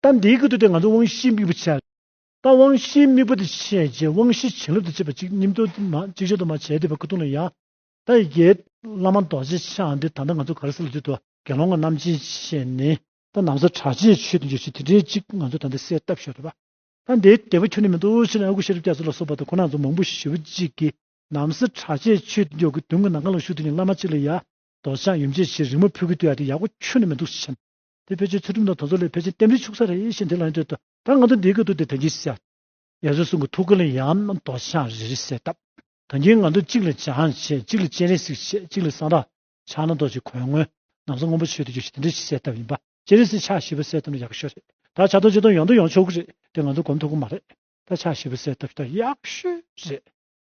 གཏམ་འདིའི་ཁུལ་དུ་དེ་ང་ཚོ་དབང་བཞིའི་དམིགས་པ་བྱས། ད་དབང་བཞིའི་དམིགས་པ་དེ་བྱས་རྗེས་དབང་བཞིའི་བྱིན་རླབས་དེ་བྱེད་པ་གཅིག་ཉིད་དུ་གཅིག་ཆར་དུ་མ་བྱས་ཏེ་བར་སྐུ་གདུང་ལ་ཡང་དག་ཡི་གེ། བླ་མ་རྡོ་རྗེ་འཆང་འདི་ད་ལྟ་ང་ཚོ་གར་སོང་ལ་དུས་དུ་དགེ་སློང་ངོ་རྣམས་སྦྱིན་བྱས་ནས། ད་ནང་སོ་དྲག་ཅེས་ཆོས་འདི་འཇོག་བྱེད་དེ་འདྲའི་གཅིག་ང་ཚོ་ད་ལྟ་གསལ་བཏབ་ཤོག་རེད་པ། ད་འདིའི་དད་པ་ཁྱོན་ནས་མི་འདུག་ཕྱི་ནས་ཨ་ཁུ་ཤེས་རབ་རྒྱ་མཚོ་ལ་སོགས་པ་དང་ཁོ་ན་ཚོ་མང་པོ་ཞེ་བོ་གཅིག་གིས་ནང་སོ་དྲག་ཅེས་ཆོས་འདི་འཇོག་གི་དུས་ངོ་ནམ་གང་ལ་བཞུགས་དེ་ཉིད་བླ་མ་གཅིག་ལ་ཡང་རྡོ་ཆང་ཡུམ་ཆེ་ཞེས་རིང་མོ་ཕུད་ཀི་བསྟོད་ཡ་དེ་ཡག་པོ་ཆོད་ནི་མི་འདུག་ཞེས་བཤད། དེ་ཕལ་ཆེར་ཚུལ་ཁྲིམས་དང་དོལ་ཚོགས་ལས་ཕལ་ཆེར་གཏན་འབྲེལ་ཆུག་ས་རེད་ཞེས་དེ་ལ་ཡང་བསྟོད། ད་ང་ཚོ་འདིའི་སྐད་དུ་དེ་དོན་གྱིས་བཤད། ཡ་བཟོད་གསུང་གི་ཐུགས་ཀ་ལ་ཡང་རྡོ་ཆང་རེ་རེ་བསྲེས་སྟབས། དོན་གྱིས་ང་ཚོ་གཅིག་ལ་ཆང་བྱེད་གཅིག་ལ་སྤྱན་རས་གཟིགས་བྱེད་གཅིག་ལ་སང་ར། ཕྱག་ན་རྡོ་རྗེ་གོས་སྔོན། ནམ་སང་སྔོན་པོ་ཆོས་དུ་འགྱུར་ཞེས་དེ་འདྲ་ཞིག་བསྲེས་སྟབས་ཡིན་པ། སྤྱན་རས་གཟིགས་ཕྱག་བཞི་པ་བསྲེས་སྟབས་ན་ཡག་གི་ཤོས་རེད། ད་ཕྱག་སྟོང་ཆིག་སྟོང་ཡང་དུ་ཡོང་ཆོག་གི་རེད་དེ་ང་ཚོ་གོམས་ཐུབ་གི་མ་རེད། ད་ཕྱག་བཞི་པ་བསྲེས་སྟབས་ད་ཡག་གི་ཤོས་རེད།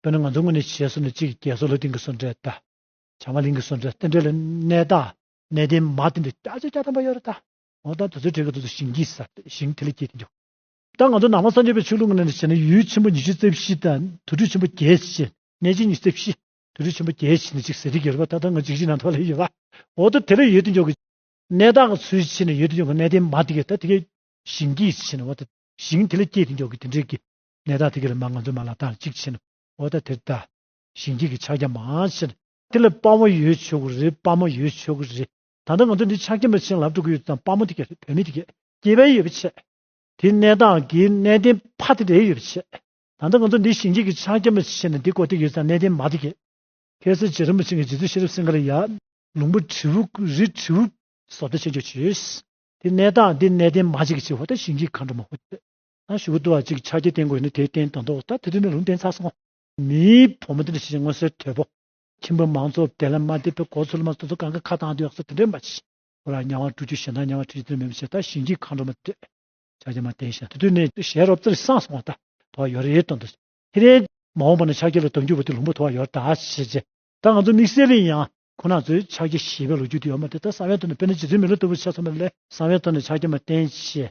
དཔེར་ན་ང་ཚོ་དངོས་གནས་བྱེས་སོ་ནས་གཅིག་གི་རྒྱལ་སྲོལ་ལོ་ཏིང་གི་སྲོལ་འབྲས་དང། བྱང་མ་གླིང་གི་སྲོལ་འབྲས་རྟེན་འབྲེལ་ལ་གནས་དང་གནས་བརྟན་མ་བསྟེན་ཏེ་སྐྱ་ཆོས་སྐྱ་ཐམ་པ་གཡོ་ར་དང། འོ་ད་དུ་ཚོའི་གྲས་ཀྱི་ཚོགས་སུ་ཞིང་སྐྱིད་ས་ཞིང་དེ་ལས་སྐྱེས་ཏེ་འཇུག། ད་ང་ཚོ་ནང་པ་སངས་རྒྱས་པའི་ཆོས་ལུགས་དངོས་གནས་ནས་བྱས་ན་ཡུལ་ཆེན་པོ་ཉི་ཤུ་རྩེ་བཞི་དང་དུར་ཁྲོད་ཆེན་པོ་བརྒྱད་བཞི། གནས་ཆེན་ཉི་ཤུ་རྩེ་བཞི། དུར་ཁྲོད་ཆེན་པོ་བརྒྱད་བཞི་ནི་གཅིག་ཟེར་གྱི་ཡོད་རེད་པ་ད་ལྟ་ང་འཇིགས་བྱེད་ནང་དུ་ལས་ཡོད་པ། འོ་ད་དེ་ལས་ཡོད་དེ་འཇོག་གི། གནས་བདག་གི་ཚུལ་ཕྱེ་ནས་ཡོད་དེ་འཇོག་གི་གནས་བརྟན་མ་དེ་གས་ད་དེ་གས་ཞིང་སྐྱིད་ཕྱེ་ནས་འོ་ད་ཞིང་དེ་ལས་སྐྱེས་ཏེ་འཇོག་གི་དེ་འདྲས་ཀྱི། ནད་བདག་དེ་གི་ལ་མ་ང་ཚོའི་མ་ལ་ལྟ་ལ་གཅིག་བྱས་ན་འོ་ད་དེར་ལྟ། ཞིང་སྐྱིད་ཀྱི་ཕྱག་རྒྱ་མང་ཆེ་ན། དེ་ལ་དཔའ་མོ་ཡོད་ཆོག་གི་རེད་དཔའ་མོ་ཡོད་ཆོག་གི་རེད། ད་ལྟ་ང་ཚོ་འདི་ཕྱག་རྒྱ་མ་བྱིན་རླབས་འགྲོ་གི་ཡོད་ཙང་དཔའ་མོ་དེ་ག་རེད་བོད་མི་དེ་ག་སྐྱེས་པའི་ཡོད་པ་ཆད། དེ་གནས་སྟངས་ཀྱི་གནས་བརྟན་ཕ་དེ་རེད་ཡོད་པ་ཆད། ད་ལྟ་ང་ཚོ་འདི་ཞིང་སྐྱིད་ཀྱི་ཕྱག་རྒྱ་མ་བྱིན་ན་འདི་གོ་དེ་ཡོད་ཙང་གནས་བརྟན་མ་དེ་ག། ཁྱེད་སེར་བྱེས་རིན་པོ་ཆེ་ངས་རྗེ་བཙུན་ཤེས་རབ་སེང་ག་ལ་ཡ། ལུང་པ་དྲིལ་བུ་རི་དྲིལ་བུ། སོ་ལྟ་ཆེ་མཆོག་བྱོས། དེ་གནས་སྟངས་འདི་གནས་བརྟན་མ་བྱེད་གི་ཆེ་ཧོ་ད་ཞིང་སྐྱིད་མཁའ་འགྲོ་མ་ཧོ་ཆད། ཞུ་བ་དུ་བ་ཅིག་ཕྱག་རྒྱའི་སྟེང་དགོས་ནི་དེའི་སྟེང་དོན་རྟོགས་ད་དེ་དུས་ན་ལུང་བསྟན་ཚར་སོང། མིའི་བུ་མོ་འདི་འདྲ་ཞིག་ཅིག་མངོན་གསལ་དོད་པོ། ཁྱིམ་བུ་མང་ཚོགས་དེ་ལ་མ་དད་པའི་གོ་ཚུལ་མ་སོ་སོ་གང་གི་ཁ་བཏང་དུ་ཡག་སོ་དེ་འདྲའི་མ་བྱས། ཁོ་ལ་གཉའ་བ་བཀྲུ་རྒྱུ་ཞེ་སྡང་གཉའ་བ་ཁྲིད་རྒྱུ་དོན་མེད་པ་ཞེ་ད་ཞིང་གཅིག་མཁའ་འགྲོ་མ་སྟོད། ཕྱག་རྒྱ་མ་བསྟན་ཞེ་ད་དེ་དུས་ནས་ཞལ་རོབ་རྩེར་སངས་སོང་བ་ད་དོ་བ་ཡོད་རེད་དོན་དུ། ཁྱེད་རས། མ་འོངས་པ་ན་ཕྱག་རྒྱ་ལ་དོན་བསྒྱུར་བ་དེ་ལུང་པ་དོ་བ་ཡོད་ད་ཞེས་བརྗེད། ད་ང་ཚོ་དམིགས་བསལ་ཡིན་ཡང་ཁོ་ན་ཚོས་ཕྱག་རྒྱ་ཞེས་པའི་ལོ་རྒྱུས་དེ་ཡོད་མ་དེ་ད་ས་བོན་དོ་ན་དཔེར་ན་རྗེ་བཙུན་མི་ལོ་ལྟ་བུ་ཆགས་སོང་བ་ལས་ས་བོན་དོ་ན་ཕྱག་རྒྱ་མ་བསྟན་ཞེས་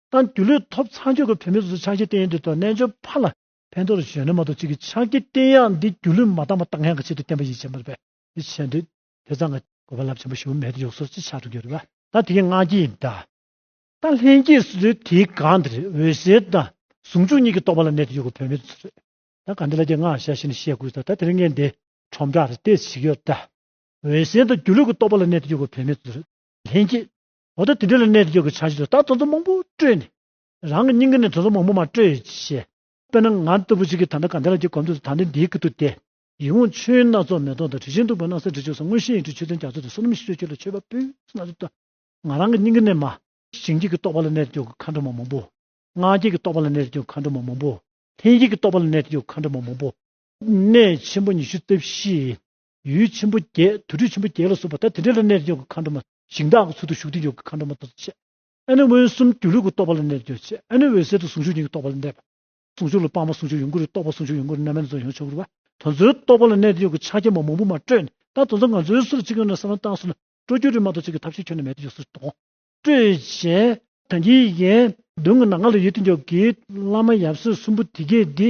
ཏང་སྒྱུར་ལས་ཐོབ་ཚང་ཆོས་ཀྱི་བོན་མི་སོ་སོའི་ཕྱག་བཞེས་བསྟན་འཛིན་ཐོག་རྣལ་འབྱོར་ཕ་ལ་ཕན་ཐོགས་རུ་གཞོན་ནུ་མ་གཏོགས་གཅིག་གིས་ཕྱག་བགྱི་བསྟན་གཡག་འདི་སྒྱུ་ལུས་མ་དག་པ་བརྟག་མཁན་གྱི་ཆེད་དུ་བསྟན་པ་ཡིད་ཆེས་མ་ཐུབ་པས་ཆད་འདོད་དེ་ཚང་གི་གོ་བ་རླབས་ཆེན་པོ་ཞུ་མེད་དུ་ཡོག་སོར་ཅི་ཆགས་འགྲོ་གི་རེད་པ། ད་དེ་གའི་སྔ་རྗེས་ཡིན་ད། ད་ལྷན་སྐྱེས་སུ་ཚོའི་དེའི་སྒང་འདི་རེད་འོད་ཟེར་ད། ཟུང་འཇུག་གཉིས་ཀྱི་རྟོགས་པ་ལ་གནད་དུ་ཡོད་དགོས་བོད་མི་ཚོ་རེད། ད་ག་འདི་ལ་རྒྱ་སྔགས་ཞལ་བཞེས་ནས་བཤད་དགོས་ད་ད་དེ་རིང་ངས་འདི་ཁྲོམ་བསྒྲགས་རེད་ལྟས་ཤིག་ཡོད་ད། འོད་ཟེར་ད་སྒྱུ་ལུས་ཀྱི་རྟོགས་པ་ལ་གནད་དུ་ཡོད་དགོས་བོད་མི་ཚོ་རེད། ལྷན་སྐྱེས། འོ་ད་དེ་འདྲ་ལ་གནས་འགྱོ་གི་ཆགས་གཞི་དུ་ད་དོ་ཚོ་མང་པོ་སྤྲོས་ནས། རང་གི་སྙིང་ག་ནས་དོ་ཚོ་མང་པོ་མ་སྤྲོས་ཡོད་ཤེས། དཔེར་ན་ང་ལྟ་བུ་ཞིག་གིས་ད་ལྟ་ག་འདི་ལ་གྱི་གོམ་དུ་ད་འདི་འདིའི་གི་དུ་དེ། ཡིད་འོང་ཆོས་དབྱིངས་སྣ་ཚོགས་མེ་ཏོག་དང་དྲི་ཆེན་བདུག་པའི་སྣང་སེམས་དྲི་ཆུ་ས་དངོས་ཤེས་ཡིན་གྲུབ་ཆོས་ཚན་རྒྱ་མཚོ་དང་བསོད་ནམས་ཞི་ཁྲོ་ཁྱོད་ལ་མཆོད་པ་ཕུལ་སྣ་ཚོགས་བསྟོད། ང་རང་གི་སྙིང་ག་ནས་མ། ཞིང་སྐྱེས་ཀྱི་རྟོག་པ་ལ་གནས་འགྱོ་གི་མཁའ་འགྲོ་མ་མང་པོ། ངག་སྐྱེས་ཀྱི་རྟོག་པ་ལ་གནས་འགྱོ་གི་མཁའ་འགྲོ་མ་མང་པོ། ལྷན་སྐྱེས་ཀྱི་རྟོག་པ་ལ་གནས་འགྱོ་གི་མཁའ་འགྲོ་མ་མང་པོ། གནས་ཆེན་པོ་ཉི་ཤུ་རྩ་བཞི་ཡི། ཡུལ་ཆེན་པོ་བརྒྱད་དུར་ཁྲོད་ཆེན་པོ་བརྒྱད་ལ་སོགས་པ་ད་དེ་འདྲ་ལ་གནས་ཀྱི་ཡོ་གའི་མཁའ་འགྲོ་མ། ཞིང་དག་གི་ཚུལ་དུ་ཞུགས་ཏེ་ཡོ་གའི་མཁའ་འགྲོ་མ་ཐོག་ཏུ་ཆས། ཨ་ནི་མངོན་སུམ་སྒྱུ་ལུས་ཀྱི་རྟོག་པ་ལ་གནས་ཏེ་ཆས་ཨ་ནི་འོད་གསལ་དུ་ཟུང་འཇུག་ཉིད་ཀྱི་རྟོག་པ་ལ་གནས་པ། ཟུང་འཇུག་ལ་སྤངས་པ་ཟུང་འཇུག་ཡོངས་སྐུར་རྟོགས་པ་ཟུང་འཇུག་ཡོངས་སྐུར་རྣམ་སྨིན་དོན་ཡོངས་ཆོས་སྐུར་བ། དོན་རྩོད་རྟོག་པ་ལ་གནས་ཏེ་ཡོ་གའི་ཕྱག་རྒྱ་མ་མང་པོ་མ་སྤྲོས་ནས་ད་དོན་རྩོད་ང་ཚོའི་སུ་ལ་གཅིག་ཡོད་ན་ས་ལམ་རྟགས་སུ་ལ་སྤྲོ་སྐྱོ་རིས་མ་གཏོགས་གཅིག་གི་ཐབས་ཤེས་ཁྱོན་ན་མེད་དེ་ཡོ་སུ་གཏོང། སྤྲོས་བཅས། དོན་གྱི་ཡན། མདུན་གྱི་ནང་ང་ལ་ཡོད་དེ་ཡོ་གའི་བླ་མ་ཡབ་སྲས་གསུམ་པོ་དེ་གས་འདི།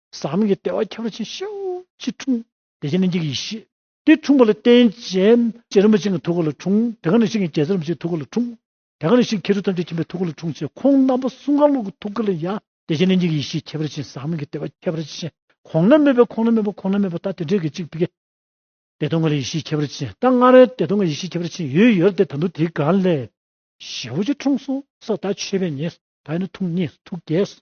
ཟག་མེད་ཀྱི་ལྟེ་བ་ཁྱབ་ར་ཆེན་ཤེའུ་ཅི་འཁྲུངས། དེ་བཞིན་གཉིས་ཀྱི་ཡེ་ཤེས། དེ་འཁྲུངས་པ་ལ་རྟེན་བྱེད་ཅེས་རིན་པོ་ཆེ་འི་ཐུགས་ཀ་ལ་འཁྲུངས། དེ་ག་ནས་ཤིག་རྒྱལ་སྲས་རིན་པོ་ཆེའི་ཐུགས་ཀ་ལ་འཁྲུངས། དེ་ག་ནས་ཤིག་ཁེར་རུ་ཐམས་ཅད་མཁྱེན་པའི་ཐུགས་ཀ་ལ་འཁྲུངས་ཅེས་ཁོང་རྣམ་པ་གསུམ་ག་ལུགས་ཀྱི་ཐུགས་ཀ་ལ་ཡ། དེ་བཞིན་གཉིས་ཀྱི་ཡེ་ཤེས་ཁྱབ་ར་ཆེན་ཟག་མེད་ཀྱི་ལྟེ་བ་ཁྱབ་ར་ཆེན་གོང་ན་མེད་པའི་ཁོང་ན་མེད་པ་ཁོང་ན་མེད་པ་ད་དེ་འདྲའི་གི་ཅིག་བི། བདེ་སྟོང་ག་ལ་ཡེ་ཤེས་ཁྱབ་ར་ཆེན་ད་སྔ་རོལ་བདེ་སྟོང་ག་ཡེ་ཤེས་ཁྱབ་ར་ཆེན་ཡོད་ཡོད་ར་དེ་ད་དུ་དེ་ག་ལས། ཤེའུ་ཅི་འཁྲུངས་སོ་སོ་ད་མཆོད་པས་ཉེས། ད་ཡོད་ན་ཐུགས་མཉེས་སོ་ཐུགས་རྒྱས་སོ།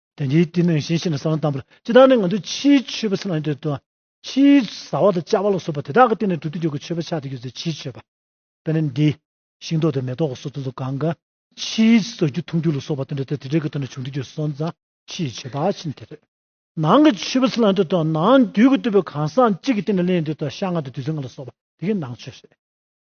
དེ་འདྲའི་བསྟི་གནས་གཞན་ཞིག་ལ་གསང་བ་བལྟམས་པར་ཅི་ལྟར་ནི་ང་ཚོས་ཕྱིའི་མཆོད་པ་ཚིག་ལ་ཉེ་དུ་ཕྱིའི་བཟའ་བ་དང་བཅའ་བ་ལ་སོགས་པ་དེ་དག་གི་སྟེང་ནས་དུག་ཏུ་འཇུག་གི་མཆོད་པ་ཕྱག་ཏུ་གྱུར་ཚེ་ཕྱིའི་མཆོད་པ། དཔེར་ན་འདི། ཤིང་ཏོག་དང་མེ་ཏོག་གི་སོགས་ཚོན་དུ་གང་གཱ། ཕྱིའི་བཟའ་རྒྱུ་འཐུང་རྒྱུ་ལ་སོགས་པ་དང་འདྲ་སྟེ་དེ་དག་གི་སྟེང་ནས་བྱུང་དུ་གྱུར་སོགས་ན་ཕྱིའི་མཆོད་པ་ཕྱིན་དེ་རེད། ནང་གི་མཆོད་པ་ཚིག་ལ་ཉེ་དུ་ནང་དུས་ཀྱི་བསྟོད་པའི་གང་ཟག་གཅིག་གི་སྟེང་ནས་ལན་བདུན་དང་ཤ་ལྔ་དང་བདུད་རྩི་ལྔ་ལ་སོགས་པ་དེ་གའི་ནང་མཆོད་རེད།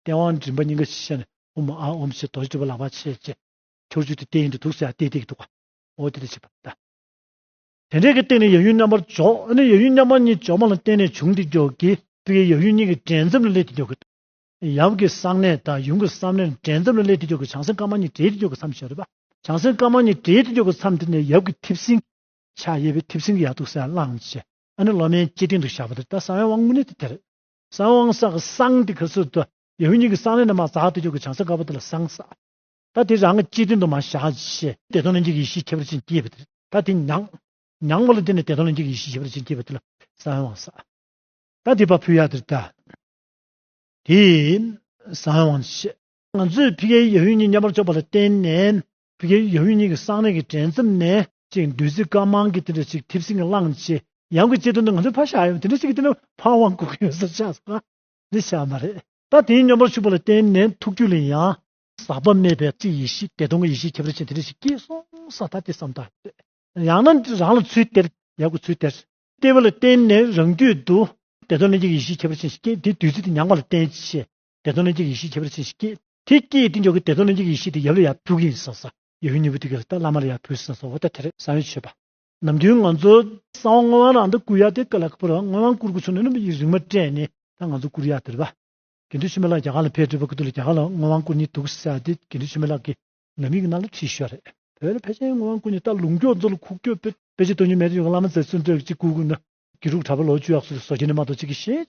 སྟེས་དབང་མགྲིན་པ་སྙིང་ག་ཞེས་བཤད་ནས་ཨུ་མ་ཨ་ཨུམ་ཞེས་རྡོ་རྗེ་སྒྲུབ་པ་ལ་བར་ཆད་བཅད། ཁྱོགས་བཅུ་སྟེ་སྟེ་ཡིན་དུ་དུག་སེལ་ཡང་སྟེ་སྟེ་གྱི་དུག་གོ། ཨོ་ཏི་ཏི་བྱེད་པ་བཟླ། དེ་འབྲས་ཀྱི་སྟེང་ནས་ཡབ་ཡུམ་མཉམ་པར་འཇོག་ཨ་ནི་ཡབ་ཡུམ་མཉམ་པ་གཉིས་འཇོག་མ་ལ་བརྟེན་ནས་བྱུང་སྟེ་འཇོག་གི། སྤུ་ཡི་ཡབ་ཡུམ་གཉིས་ཀྱི་འབྲེལ་མཚམས་ལ་སླེབས་ཏེ་འཇོག་གི། ཡབ་ཀྱི་གསང་གནས་དང་ཡུམ་གྱི་གསང་གནས་འབྲེལ་མཚམས་ལ་སླེབས་ཏེ་འཇོག་གི་བྱང་སེམས་དཀར་དམར་གཉིས་འབྲེལ་ཏེ་འཇོག་གི་མཚམས་ཞེས་རོལ་པ། བྱང་སེམས་དཀར་དམར་གཉིས་འབྲེལ་ཏེ་འཇོག་གི་མཚམས་དེ་ནས་ཡབ་ཀྱི་མཐེབ་སྲིན། ཕྱག་གཡས་པའི་མཐེབ་སྲིན་གྱིས་ཡར་དུག་སེལ་བླངས། ཨ་ནི་སློབ་མའི་ལྕེ་སྟེང་དུ་བཞག་པ་དེར་ལྟ་ས་བོན་དབང་དངོས་གནས་དེ་དེར། གསང་དབང་སྲ་གི་གསང་དེ་གི་སུ་དོ། ཡེ་ཧུད་ཉིད་ཀྱི་གསང་ལས་ནི་མ་བཟའ་ཏུ་གྱུར་གྱི་བྱང་སེམས་དཀར་པོ་དེ་ལ་གསང་སྲ། ད་དེ་རང་གི་སྤྱི་དོན་དུ་མ་བཞག་ཅི། བདེ་སྟོང་ལྷན་སྐྱེས་ཀྱི་ཡེ་ཤེས་ཁྱད་པར་ཅན་སྐྱེས་པ་དེ། ད་དེ་མྱང། མྱང་བ་ལ་དེ་ནི་བདེ་སྟོང་ལྷན་སྐྱེས་ཀྱི་ཡེ་ཤེས་ཁྱད་པར་ཅན་སྐྱེས་པ་དེ་ལ་གསང་དབང་སྲ། ད་དེ་བ་ཕུ་ཡ་དེར་ད། དེས། གསང་དབང་བྱེད། ང་ཚོས་ཕི་ཀའི་ཡེ་ཧུད་ཉིད་མཉམ་པར་ཕྱོགས་པ་ལ་བརྟེན་ནས། བུ་གའི་ཡབ་ཡུམ་གཉིས་ཀྱི་གསང་གནས་ཀྱི་དྲན་རྩེ་ནས། ཅིག་བདུད་རྩི་དཀར་དམར་གྱི་དེ་འདྲ་ཅིག་མཐེབ་སྲིན་གྱི་གླང་ཆེན་ཡམས་ཀྱི་ལྕེ་སྟོད་དུ་ང་ཚོའི་ཕ་ཤ་ཡོམ་དེ་འདྲ་ཅིག་གི་དེ་ནས་ཕ་དབང་བསྐུར་གྱི་ཡོད་ས་ཆགས་སོང་ང། འདི་ཤར་མ་རེད། ད་དེའི་སྙོམས་པར་ཞུགས་པ་ལ་བརྟེན་ནས་ཐུགས་རྒྱུད་ལ་ཡང། ཟག་པ་མེད་པའི་ཚིག་ཡེ་ཤེས་བདེ་སྟོང་གི་ཡེ་ཤེས་ཁྱད་པར་ཅན་དེ་འདྲ་ཞིག་སྐྱེས་སོང་ས་ད་དེ་བསམ་ཐག་ཆོད། ཡང་ན་འདི་རང་ལ་ཚུལ་སྟེར་ཡག་དགོས་ཚུལ་སྟེར། སྟེར་བ་ལ་བརྟེན་ནས་རང་རྒྱུད་དུ། བདེ་སྟོང་ལྷན་སྐྱེས་ཀྱི་ཡེ་ཤེས་ཁྱད་པར་ཅན་ཞིག་སྐྱེས་དེ་བདུད་རྩི་དེ་མྱངས་པ་ལ་བརྟེན་ཆེད། དེ་ཚོ་ནི་འཇིག་ཡེ་ཤེས་ཁྱད་པར་ཅན་ཞིག་སྐྱེས། དེ་སྐྱེས་ཏེ་འཇོག་གི་དེ་ཚོ་ནི་འཇིག་ཡེ་ཤེས་དེ་ཡབ་ལ་ཡང་ཕུལ་གྱི་ཡིན་བསམས་སོ། ཡབ་ཡུམ་གཉིས་པོ་དེ་གའི་ལྷ་དང་བླ་མ་ལ་ཡང་ཕུལ་བསམས་སོ་འོ་ད་དེར་གསང་བའི་མཆོད་པ། ནམ་རྒྱུན་ང་ཚོ་གསང་བ་བསྔོ་བ་ནང་དུ་བསྐུར་ཡ་དེ་ཀ་ལ་ཀ་པོ་ར་བ་སྔོན་དབང་བསྐུར་དགོས་ཚུལ་ནི་ནུབ་ཡིག་རིག་མ་སྤྲད་ནས་ད་ང་ཚོ་བསྐུར་ཡ་དེར་བ། དགེ་འདུན་ཆོས་མེད་ལགས་རྒྱ་གར་ལ་ཕེབས་དུས་བ་ཀུ་ཏུ་ལ་རྒྱ་གར་ལ་བསྔོ་བ་བསྐུར་ནི་འདུག་བསལ་ཏེ་དགེ་འདུན་ཆོས་མེད་ལགས་ཀྱིས་ནུབ་ཡིག་ནང་ལ་བྲིས་ཤོག་རེད། བོད་ལ་ཕལ་ཆེར་བསྔོ་བ་བསྐུར་ནི་ད་ལུང་ཀྱོག་མཛོ་ལ་ཁུག་ཀྱོག་པོད། དཔེ་ཆེན་དོན་གཉིས་མེད་དུ་ཡོད་ཀྱི་བླ་མ་ཛེ་བཙུན་སྟོད་ཀྱི་སྐུ་གུ་ནི། དགེ་ཕྲུག་གྲྭ་པ་ལོ་བཅུ་ཡག་སུ་ལ་བཟོ་རྒྱུ་ནི་མ་གཏོགས་ཅི་གི་ཤེས།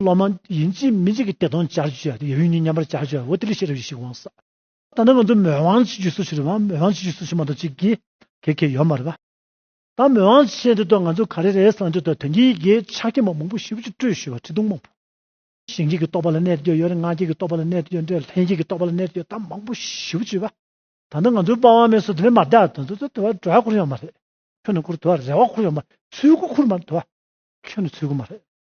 སློབ་མ་ཡིན་གཅིག་མིན་གཅིག་གི་བདེ་སྟོང་སྦྱར་བརྗོད་ཡོད་ཡོད་ཉིད་མཉམ་པར་སྦྱར་བརྗོད་འོ་དེ་ལས་ཤེས་རབ་ཡེ་ཤེས་དབང་ཟག། ད་ནི་ང་ཚོ་མོས་དབང་བྱེད་རྒྱུ་སུ་ཞིག་རེད་བ་མོས་དབང་བྱེད་རྒྱུ་སུ་ཞིག་མ་གཏོགས་གཅིག་གིས་གེ་གེ་ཡོད་མ་རེད་བ། ད་མོས་དབང་བྱེད་འདི་ཐོག་ང་ཚོ་ག་རེ་རེད་བསམ་དུས་ཐོག་དོན་གྱི་ཡི་གེའི་ཕྱག་རྒྱ་མ་མང་པོ་ཞིབ་ཅིག་སྤྲོས་ཞུས་བ་ཁྲི་སྟོང་མང་པོ། ཞིང་སྐྱེས་ཀྱི་རྟོག་པ་ལ་གནས་དུ་ཡོད་རེད་སྔགས་སྐྱེས་ཀྱི་རྟོག་པ་ལ་གནས་དུ་ཡོད་རེད་ལྷན་སྐྱེས་ཀྱི་རྟོག་པ་ལ་གནས་དུ་ཡོད་ད་མང་པོ་ཞིབ་ཅིག་བ། ད་ནི་ང་ཚོའི་པ་བ་མེ་སོ་དེ་ནི་མ་བརྡ་དོན་དུ་དུ་དུ་བ་དྲོ་བ་ཁུར་ཡོང་མ་རེད་ཁྱོད་ནི་ཁུར་དུ་བ་རེ་བ་ཁུར་ཡོང་མ་རེད་ཚུལ་དགུ་ཁུར་མ་རེད་དུ་བ་ཁྱོད་ནི་ཚུལ་དགུ་མ་རེད།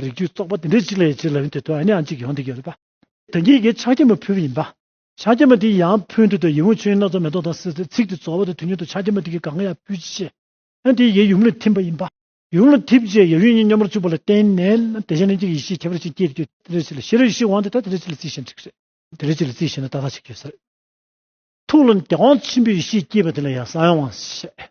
རིགས་རྒྱུད་བཙོག་པ་དེ་འདྲས་གཅིག་ལས་གཅིག་ལ་ཡོང་དུས་དོན་ཡང་གཅིག་ཡོང་དུས་ཡོད་རེད་པ། དོན་གྱིས་དགེ་ཕྱག་རྒྱ་མོ་ཕུལ་བ་ཡིན་པ། ཕྱག་རྒྱ་མོ་དེ་ཡང་ཕུལ་འདོད་དུ་ཡིད་འོང་ཆོས་ཡིན་སྣ་ཚོགས་མེ་ཏོག་དང་སེར་ཚེ་ཚིག་དེ་རྫོགས་བ་དེ་དུས་མྱུར་དུ་ཕྱག་རྒྱ་མོ་དེ་གིས་གང་ཡང་ཕུལ་ཅི་ཤེས། ཡང་དེ་ཡི་ཡུམ་ལ་ཐིམ་པ་ཡིན་པ། ཡུམ་ལ་ཐིམ་རྗེས་ཡབ་ཡུམ་གཉིས་སྙོམས་པར་བཅུག་པ་ལ་བརྟེན་ནས་དེ་གཞན་ལྷན་སྐྱེས་ཀྱི་ཡེ་ཤེས་ཁྱད་པར་ཅན་སྐྱེས་དུས་དེ་འདྲས་གཅིག་ལ་ཤེས་རབ་ཡེ་ཤེས་དབང་དེ་དག་དེ་འདྲས་གཅིག་ལ་རྩིས་ཤེས་འདྲི་གི་རེད། དེ་འདྲས་གཅིག་ལ་རྩིས་ཤེས་ན་ཏག་ཏག་གཅིག་ཡོད་ས་རེད། ཐུགས་ལ་དབང་ཆེན་པོའི་ཡེ་ཤེས་སྐྱེས་པ་དེ་ལ་ཡང་ས་ཡང་དབང་ཞེས།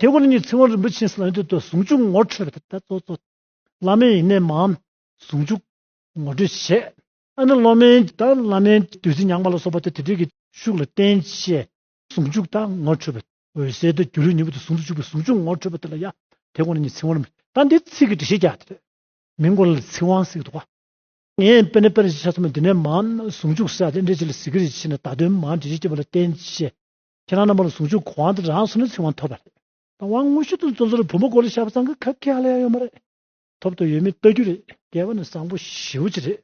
དེ་ཁོ་ན་ཉིད་ཚེ་དབང་རིན་པོ་ཆེའི་གསང་མདུན་དུ་ཟུང་འཇུག་ངོ་འཕྲོད་པའི་ཐབས་སྩོལ་ཏོ། བླ་མའི་ཡེ་ནས་མའམ་ཟུང་འཇུག་ངོ་སྤྲོད་བྱས། ཨ་ནི་སློབ་མའི་དང་བླ་མའི་བདུད་རྩི་མྱངས་པ་ལ་སོགས་པ་དེ་དེ་དུས་ཀྱི་ཤུགས་ལ་བརྟེན་བཅས་ཟུང་འཇུག་དང་ངོ་འཕྲོད་པའི་འོད་གསལ་དུ་སྒྱུ་ལུས་ཉིད་དུ་ཟུང་དུ་འཇུག་པའི་ཟུང་འཇུག་ངོ་འཕྲོད་པ་དེ་ལ་ཡང་དེ་ཁོ་ན་ཉིད་ཚེ་དབང་རིན་པོ་ཆེ་དང་དེའི་ཚིག་གི་འགྲེལ་བཤད་རྒྱ་ཆེར། མིང་གོ་ལ་ལས་ཚིག་དབང་སིག་ཏུ་བ། ངས་དཔེར་ན་དཔེར་བྱས་ཆ་ཚང་བའི་འདི་ནས་མའམ་ཟུང་འཇུག་ས་དེ་འགྲེལ་བྱེད་ལ་གཟིགས་ཀྱི་རིགས་ཆེ་ན་བདག་དོན་མའམ་འགྲེལ་བྱེད་ཀྱི་བ་ལ་བརྟེན་བཅས་ཁྱེད་རང་རྣམ་པར་ཟུང་འཇུག་གི་དབང་དེ་རང་སོ་ནས་ཚིག་དབང་ཐོབ་པ་རེད། དང་བ་དངོས་ཤུགས་དང་བཙོན་ཟུར་བུ་མོ་གོ་ལ་ཤ་བ་ཚང་གི་ཁབ་ཁེ་ལ་ཡང་ཡོད་མ་རེད། ཐོབ་ཐོབ་ཡོད་མེད་ལྟ་རྒྱུ་རེད་སྐལ་བ་ནི་བཟང་པོ་ཞེའུ་ཅི་རེད།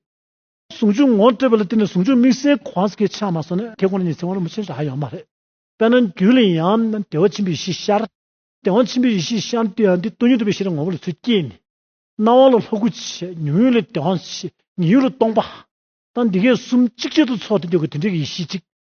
ཟུང་འཇུག་ངོ་སྤྲོད་པ་ལ་བརྟེན་ནས་ཟུང་འཇུག་དམིགས་བསལ་གི་དབང་ཟེར་མཁན་ཆགས་མ་སོང་ན་ཁྱེད་ཁོང་ལ་ནི་ཚིག་དབང་རིན་པོ་ཆེ་རག་ཡོད་མ་རེད། དཔེར་ན་རྒྱུད་ལ་ཡང་ན་བདེ་བ་ཆེན་པོའི་ཡེ་ཤེས་ཤར། བདེ་བ་ཆེན་པོའི་ཡེ་ཤེས་ཤར་ནས་དུས་ཡང་དུས་སྟོང་ཉིད་ཐོབ་པའི་ཤེས་རབ་ངོ་བོ་ལ་ཚུལ་སྐྱེས་ནས། སྣང་བ་ལ་ལྷོ་སྐུ་ཆེ་མྱུར་ཡུན་ལ་བདེ་བ་ཆེ་ཉི་ཡུ་ལ་སྟོང་པ། དང་འདི་གའི་གསུམ་གཅིག་ཆེད་དུ་ཚོགས་ཏེ་འདོད་དགུ་དེ་འདྲའི་ཡེ་ཤེས་གཅིག་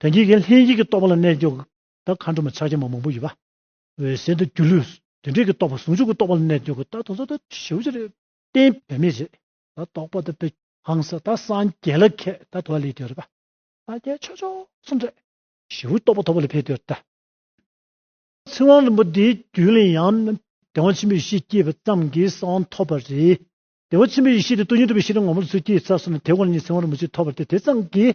དོན་གྱིས་ཀྱང་ལྷན་སྐྱེས་ཀྱི་རྟོག་པ་ལ་གནས་འགྱུར་གདགས་མཁའ་འགྲོ་མ་ཕྱག་རྒྱ་མ་མང་པོ་ཡོད་པ། འོད་གསལ་དུ་སྒྱུ་ལུས་དོན་འབྲས་ཀྱི་རྟོག་པ་ཟུང་འཇུག་གི་རྟོག་པ་ལ་གནས་འགྱུར་གདགས་དོན་རྟོག་པ་ཞི་བ་རེད། རྟེན་བུད་མེད་རེད་ད་རྟོག་པ་དང་བུད། ཧང་ས་ད་སངས་རྒྱས་ལ་མཁས་ད་དུ་བ་ལས་དོན་རེད་པ། སངས་རྒྱས་ཆོས་མཆོག་གསུམ་རེད། ཞི་བའི་རྟོག་པ་ཐོབ་པ་ལ་ཕན་དོན་རེད། ཚེ་དབང་རིན་པོ་ཏེའི་རྒྱུད་ལས་ཡང། བདེ་བ་ཆེན་པོའི་ཡེ་ཤེས་སྐྱེས་པ་ཙམ་གྱིས་གསང་བ་ཐོབ་པ་རེད། བདེ་བ་ཆེན་པོའི་ཡེ་ཤེས་དེ་ཏུ་ཉིད་ཐོབ་པའི་ཤེས་རབ་ངོ་བོ་ལ་ཚུལ་སྐྱེས་ཚད་གསུམ་ལ་དེ་དབང་ཉིད་ཚེ་དབང་རིན་པོ་ཆེ་ཐོབ་པ་དེ་དེ་ཙམ་གྱིས་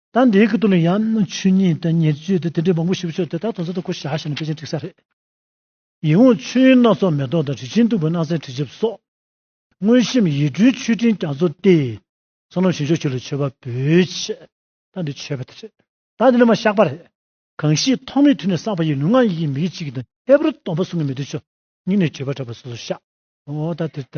ད་འདིའི་གི་དོན་ཡང་ཆོས་ཉིད་དང་ཉེར་སྤྱོད་དེ་དེ་འདྲའི་མང་པོ་ཞིག་བྱུང་དེ་དག་དོན་ཚན་དུ་གོ་བཞག་བྱས་ནས་དཔེ་ཆའི་འགྲིགས་ས་རེད། ཡིད་འོང་ཆོས་དབྱིངས་སྣ་ཚོགས་མེ་ཏོག་དང་དྲི་ཆེན་སྟུག་པོའི་སྣང་གསལ་དྲི་ཆབ་སོགས། མངོན་ཤེས་ཡིད་སྤྲུལ་མཆོད་སྤྲིན་རྒྱ་མཚོ་སྟེ། བསོད་ནམས་ཞིང་མཆོག་ཆོས་ལ་མཆོད་པ་འབུལ། ཆད་ལྟ་འདི་ཆོས་པ་དེ་རེད། ད་འདི་ནི་མ་བཞག་པ་རེད། གང་ཞིག་ཐོག་མེད་དུས་ནས་བསགས་པ་ཡི་ལུས་ངག་ཡིད་ཀྱི་མིག་གི་གཅིག་གིས་དང་ཁྱད་པར་སྟོང་པ་གསུམ་གྱི་མེ་དུ་ཆོས་ཉིད་ནས་བརྗོད་པར་གྲགས་པ་སོ་སོར་བཞག་ཨོ་ད་དེ་ལྟ།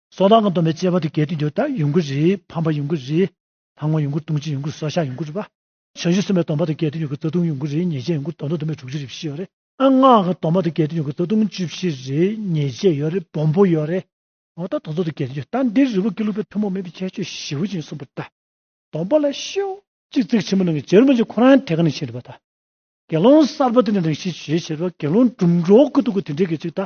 སོ་ཐང་གི་འདོམ་པའི་སྤྱད་པ་དུ་གལ་ཏེ་འདོད་ལྟར་ཡོང་གི་རེད་ཕམ་པ་ཡོང་གི་རེད། ལྷ་ངོ་ཡོང་གི་ལྟུང་བྱེད་ཡོང་གི་སོ་ཤ་ཡོང་གི་རེད་པ། བྱ་བཞི་གསུམ་པའི་འདོམ་པ་དུ་གལ་ཏེ་ཡོང་གི་རྩ་ལྟུང་ཡོང་གི་རེད་ཉེས་བྱས་ཡོང་གི་དོན་དུ་འདོམ་པའི་དྲུག་ཅུ་རེ་བཞི་ཡོད་རེད། སྔགས་ཀྱི་འདོམ་པ་དུ་གལ་ཏེ་ཡོང་གི་རྩ་ལྟུང་བཅུ་བཞི་རེ་ཉེས་བྱས་ཡོད་རེད་སྦོམ་པོ་ཡོད་རེད། ངོ་ཐོག་དོན་ཚོགས་དུ་གལ་ཏེ་འདོད་ལྟར་འདིར་རི་བོ་ཀེ་ལུ་པའི་ཐུན་མོང་མིན་པའི་ཁྱད་ཆོས་ཞི་བ་ཅན་གསུངས་པ་ལྟ་བུ། འདོམ་པ་ལ་ཤོག། གཅིག་ཚིག་ཆེན་མོ་ནང་གི་བྱེ་རུ་མ་ཅིག་ཁོ་རང་ཐད་ཀ་ནས་ཕྱིན་རེད་པ་ད། དགེ་སློང་གསར་པ་དེ་འདྲ་ནང་ཤི་བྱེད་བྱེད་པ་དགེ་སློང་སྒྲུབ་འགྲོ་གི་འདུག་གོ་དེ་འདྲའི་གེགས་ཅིག་ད།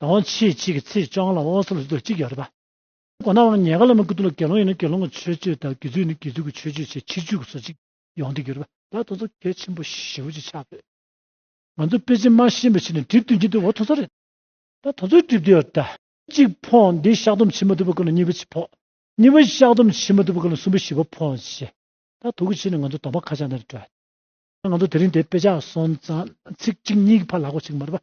དང་ཕྱེད་གཅིག་གི་ཚེས་བཅོ་ལྔ་ལ་ཨོ་སི་ལོ་སི་ཐོག་གཅིག་ཡོད་རེད་པ། འོ་ན་བར་ཉེ་ག་ལ་མི་དགུ་དུ་ལ་དགེ་སློང་ཡོད་ན་དགེ་སློང་གི་ཆོས་སྤྱོད་དང་དགེ་ཚུལ་ནི་དགེ་ཚུལ་གྱི་ཆོས་སྤྱོད་ཆེ་ཕྱིར་ཆོས་གོས་སོགས་གཅིག་ཡོང་སྡོད་ཀྱི་ཡོད་རེད་པ། ད་དུང་ཚོ་གལ་ཆེན་པོ་བཞི་བོ་ཅིག་ཆགས་སྡོད། ང་ཚོ་པེ་ཅིན་དམར་ཤིང་པའི་ཕྱི་ནས་གྲིབ་བཏོན་གྱིན་འདུག་འོ་ཐོ་ཚོ་རེད། ད་ཐོ་ཚོའི་གྲིབ་བཏོན་ཡོད་རེད། གཅིག་ཕོངས་འདི་བཤགས་སྡོམ་བྱེད་མ་ཐུབ་པ་ཀུན་ལ་གཉིས་པ་ཅིག་ཕོངས། གཉིས་པ་བཤགས་སྡོམ་བྱེད་མ་ཐུབ་པ་ཀུན་ལ་གསུམ་པ་བཞི་བ་ཕོངས་ཞེས། ད་དོ་གི་ཕྱི་ནས་ང་ཚོ་དོག་པ་ཁ་བྱང་དང་རེ་བྲོ། ང་ཚོ་དེ་རིང་དེ་དཔེ་ཆ་སོང་ཙང་ཚིག་གཅིག་གཉིས་ཀྱི་ཕར་ལ་གོ་ཆིག་མ་རེད་པ།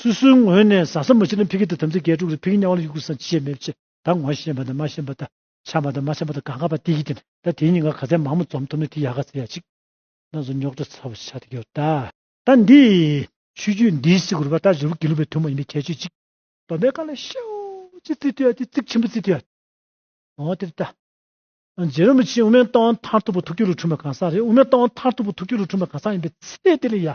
སུ་སུའི་ངོས་ནས་བཟའ་ཟ་མ་བྱིན་ན་ཕི་གི་དང་དམ་ཚིག་རྒྱས་དཀྲུགས་ལ་ཕི་གི་གཉའ་བ་ལ་ཡུག་ཀུ་སང་ཕྱི་ཡས་མེད་ཕྱི་དང་ངོ་ཤེས་པ་དང་མ་ཤེས་པ་དང་ཆམ་པ་དང་མ་ཆམ་པ་དང་ག་ག་པ་ཏི་ཡི་དེ་ད་དེ་གཉིས་ང་ག་ཚད་མང་མོ་འཛོམས་ཐུབ་ན་དེ་ཡག་ག་ཚད་ཡག་ཅིག་ན་ཟོ་ཉོག་དྲ་ཚ་བོ་ཆགས་ཏེ་ཡོད་ད། ད་འདི། ཆོས་རྒྱུད་འདིའི་སི་གུར་བ་ད་རི་བོ་དགེ་ལུགས་པའི་ཐུན་མོང་ཡིན་པའི་ཁྱད་ཆོས་ཅིག། སྡོམ་པའི་བཀའ་ལ་ཤའོ། ཅི་ཙི་ཏུ་ཡ་ཏི་ཙིག་ཆེན་པོ་ཙི་ཏུ་ཡ། འོ་དེར་ལྟ། རྗེ་རིན་པོ་ཆེའི་དབུ་མའི་རྟགས་དབང་མཐར་ཐུག་པ་ཐུགས་རྒྱུད་ལ་འཁྲུངས་པ་གང་ཟག་རེད་དབུ་མའི་རྟགས་དབང་མཐར་ཐུག་པ་ཐུགས་རྒྱུད་ལ་འཁྲུངས་པ་གང་ཟག་ཡིན་པའི་ཚེ་དེ་ལ་ཡ།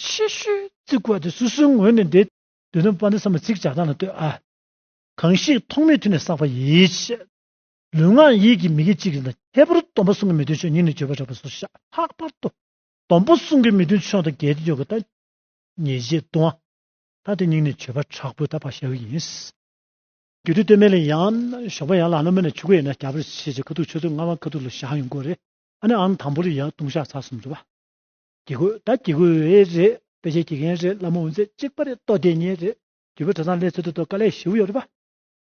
ཕྱི་ཤུལ་བརྩིགས་བར་དུ་སོ་སོའི་ངོས་ནས་འདི། དུས་དམ་དཔའ་འདི་བསམ་ལ་ཚིག་བྱ་སྟངས་ལ་ལྟོས་ཨ། གང་ཞིག་ཐོག་མེད་དུས་ནས་བསགས་པ་ཡིས། ལུས་ངག་ཡིད་ཀྱི་མི་དགེ་ཅི་གིས་འདག། ཁྱད་པར་སྡོམ་པ་གསུང་གི་མི་མཐུན་ཕྱོགས་ཉིད་ནས་བརྗོད་པར་རག་པ་སོགས་ཤ་ལྷག་པར་དུ། སྡོམ་པ་གསུང་གི་མི་མཐུན་ཕྱོགས་དང་འགལ་ཏེ་ཡོད་དགོས་ལྟ། ཉེས་བྱས་ལྟུང་བ། ད་དེ་ཉིད་ནས་བརྗོད་པར་དྲག་པོས་ད་བར་བྱ་བའི་ཡིན། རྒྱུད་དུས་སྟོད་སྨད་ལས་ཡང། ཞོགས་པ་ཡང་ལ་ལ་མོ་ནས་ཆུ་ཁོལ་ཡིན་ན་རྒྱ་བལ་ཕྱེད་ཕྱེད་ཁ་ཐུག་ཆུ་ཚོད་ལྔ་བར་ཁ་ཐུག་ལ་བཞག་ཡོང་དགོས་རེད། ཨ་ནི་ཨང་དང་པོ་རེ་ཡང་ལྟུང་བཤགས་ཚར་གསུམ་འགྲོ་བ། གྱི་གོས་ད་གྱི་གོས་རེད་དཔེ་བྱད་གྱི་མཁན་རེད་སླ་མོ་འོན་ཚད་གཅིག་པ་རེད་ལྟོ་དེ་གཉིས་རེད་རྒྱུ་བོད་གྲྭ་ཚང་ལྷའི་ཚོད་དུ་ཏོ་ཀ་ལས་ཞིའུ་ཡོག་རེད་པ།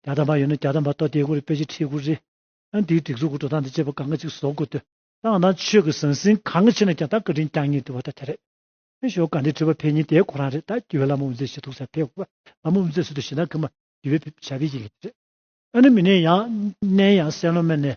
རྒྱ་དམ་པ་ཡོད་ན་རྒྱ་དམ་པ་ལྟོ་དེ་དགུ་རེད་དཔེ་བྱད་ཁྲི་དགུ་རེད་ཨང་དེའི་སྒྲིག་འཛུགས་ཀྱི་འགྲོ་སྟངས་དང་བཅས་པ་གང་ག་ཅིག་བཟོ་དགོས་ཏོ། ཏང་དང་ཆོས་ཀྱི་ཟང་ཟིང་གང་ཆེ་ན་རྒྱ་དང་བཀའ་དྲིན་རྒྱང་ཉེ་འདུ་བ་ད་དེ་རེད། ཨེ་ཞོ་ག་འདི་དྲི་བ་ཕལ་གཉིས་དེའི་གོ་རང་རེད་ད་གྱི་བོད་སླ་མོ་འོན་ཚད་ཞི་ཐུག་ས་ཕེབས་དགོས་པ་སླ་མོ་འོན་ཚད་སུ་དུ་ཞི་ན་གི་མ་གྱི་བོད་བྱ་བའི་ཡིག་ལས་རེད། ཨ་ནི་མི་ནས་ཡང་ནས་ཡང་སེང་ལོ་མེར་ནས་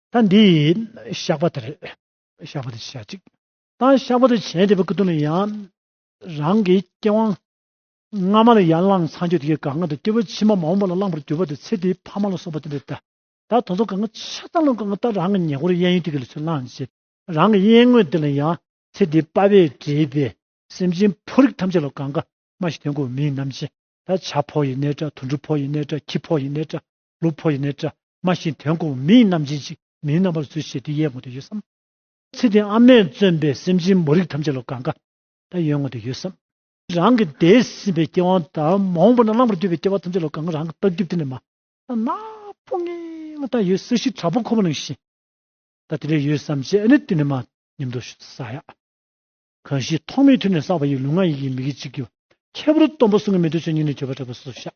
ད་འདི་ཡིས་ཤག་པ་དེར་ཤག་པ་དེ་བྱ་ཅིག། ད་ཤག་པ་དེ་བྱེད་འདི་པ་ཀུ་དུ་མི་ཡང་རང་གི་སྐྱེ་བ་སྔ་མ་ལ་ཡང་བླངས་ཚངས་སྤྱོད་དེ་ག་ང་དང་སྐྱེ་བོ་ཕྱི་མ་མ་འོངས་པ་ལ་བླང་བར་འགྱུར་བ་དེ་ཚེ་དེའི་ཕ་མ་ལ་སོགས་པ་དེ་འདི་ད་ད་དོ་ཚོ་ག་ང་ཆ་ཚང་ལ་ག་ང་ད་རང་གི་ཉེ་འཁོར་གཡས་གཡོན་དེ་ག་ལ་ཚུར་བླངས་ཅིག་རང་གི་གཡས་ངོས་དེ་ལ་ཡང་ཚེ་འདིའི་དཔའ་བས་བྲིས་པའི་སེམས་ཅན་ཕོ་རིགས་ཐམས་ཅད་ལ་ག་ང་མ་ཞིག་དོན་གོ་མིང་རྣམས་ཅན་ད་བྱ་ཕོ་ཡི་གནས་སྒྲ་དུར་འབྲུ་ཕོ་ཡི་གནས་སྒྲ་ཁྱི་ཕོ་ཡི་གནས་སྒྲ་ལུག་ཕོ་ཡི་ནས་བཀྲ་དམའ་ཞིང་དོན་གོ་བོ་མིའི་རྣམ་ཅན་ཅིག་མིའི་རྣམ་པར་ཚུལ་ཤེས་དེ་ཡས་ངོ་དེ་ཡོད་བསམ། ཚེ་འདི་ཨ་མས་བརྩོན་པས་སེམས་ཅན་མོ་རིགས་ཐམས་ཅད་ལ་དགའ་དགའ་ད་ཡོད་ངོ་དེ་ཡོད་བསམ། རང་གི་འདས་ཟིན་པའི་སྐྱེ་བོང་ད་མོང་པོ་ན་བླང་པར་གྱུར་པའི་སྐྱེ་བ་ཐམས་ཅད་ལ་དགའ་དགའ་རང་གི་རྟགས་རྒྱུད་དེ་ནས་མ་ད་ན་སྤུ་ངན་ལ་ད་ཡོད་ས་གཞི་དྲག་པོ་ཁོ་བོ་ནང་བཞིན་ད་དེ་ལས་ཡོད་བསམ་བྱས་ཨ་ནི་དེ་ནས་མ་ཉམས་དོ་ཞུ་ས་ཡ། གང་ཞིག་ཐོག་མེད་ཐུན་ནས་བསགས་པ་ཡི་ལུས་ངག་ཡིད་ཀྱི་མིག་གི་ཕྱི་གི་བ། ཁྱད་པར་སྟོང་པ་གསུང་གི་མེ་དུ་ཆོས་ཉིད་ནི་བརྗོད་པ་དྲག་པོའི་སོ་སོར་བཤགས།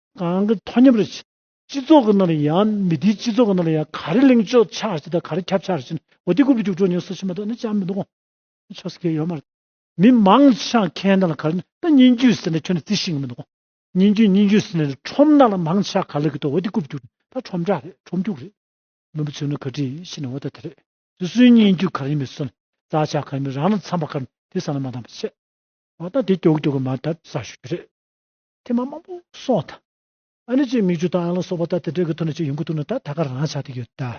གང་གི་ཐོག་མཉམ་རེད། སྤྱི་ཚོགས་ཀྱི་ནང་ལ་ཡང་མི་དེའི་སྤྱི་ཚོགས་ཀྱི་ནང་ལ་ཡང་ག་རེ་གླེང་ཆོག་ཆགས་ཞེ་དང་ག་རེ་ཁྱབ་ཆགས་ཞེ་ནི་འོ་དེ་ཀུ་བུ་ཅུག་ཀྲོ་ཉོག་སུ་ཤི་མ་གཏོགས་ནི་ཅང་མི་འདུག་གོ། ཆོག་སེ་གེ་ཡོད་མ་རེད། མི་མང་ཆགས་མཁན་དང་ལ་ག་རེ་ནི་ད་སྙན་རྒྱུད་ཟེར་ནས་ཁྱོད་ནི་རྩི་ཤེས་ངེས་མི་འདུག་གོ། སྙན་རྒྱུད་སྙན་རྒྱུད་ཟེར་ནས་ཁྲོམ་ནང་ལ་མང་ཆགས་ག་ལ་གི་ཏོ་འོ་དེ་ཀུ་བུ་ཅུག་ཀྲོ་ད་ཁྲོམ་བསྒྲགས་རེད་ཁྲོམ་རྒྱུགས་རེད། མི་བུ་ཚོས་ནི་ག་དྲིས་ཤེས་ནི་འོ་ད་དེ་རེད། སུ་སུའི་སྙན་རྒྱུད་ག་རེ་ཡིན་མི་སུ་ནི་རྩ་ཆགས་ག་རེ་མི་རང་ལ་འཚམས་པ་ག་རེ་ནི་དེ་ས་ན་མ་འདང་བ་ཤེས། འོ་ད་དེ་ཀྱོག་ཀྱོག་གི་མ་ད་ས་ཞུ་རྒྱུ་རེད། ཐེམ་མ་མང་པོ་སོགས་དང། ཨ་ནི་ཅན་མིག་ཆུ་དང་ཨན་ལ་སོགས་པ་ལྟར་དེ་འདྲའི་གི་ཐོག་ནས་ཅིག་ཡོང་གི་འདུག་ན་ད་ད་ག་རང་ཆགས་ཏེ་ཡོད་ད།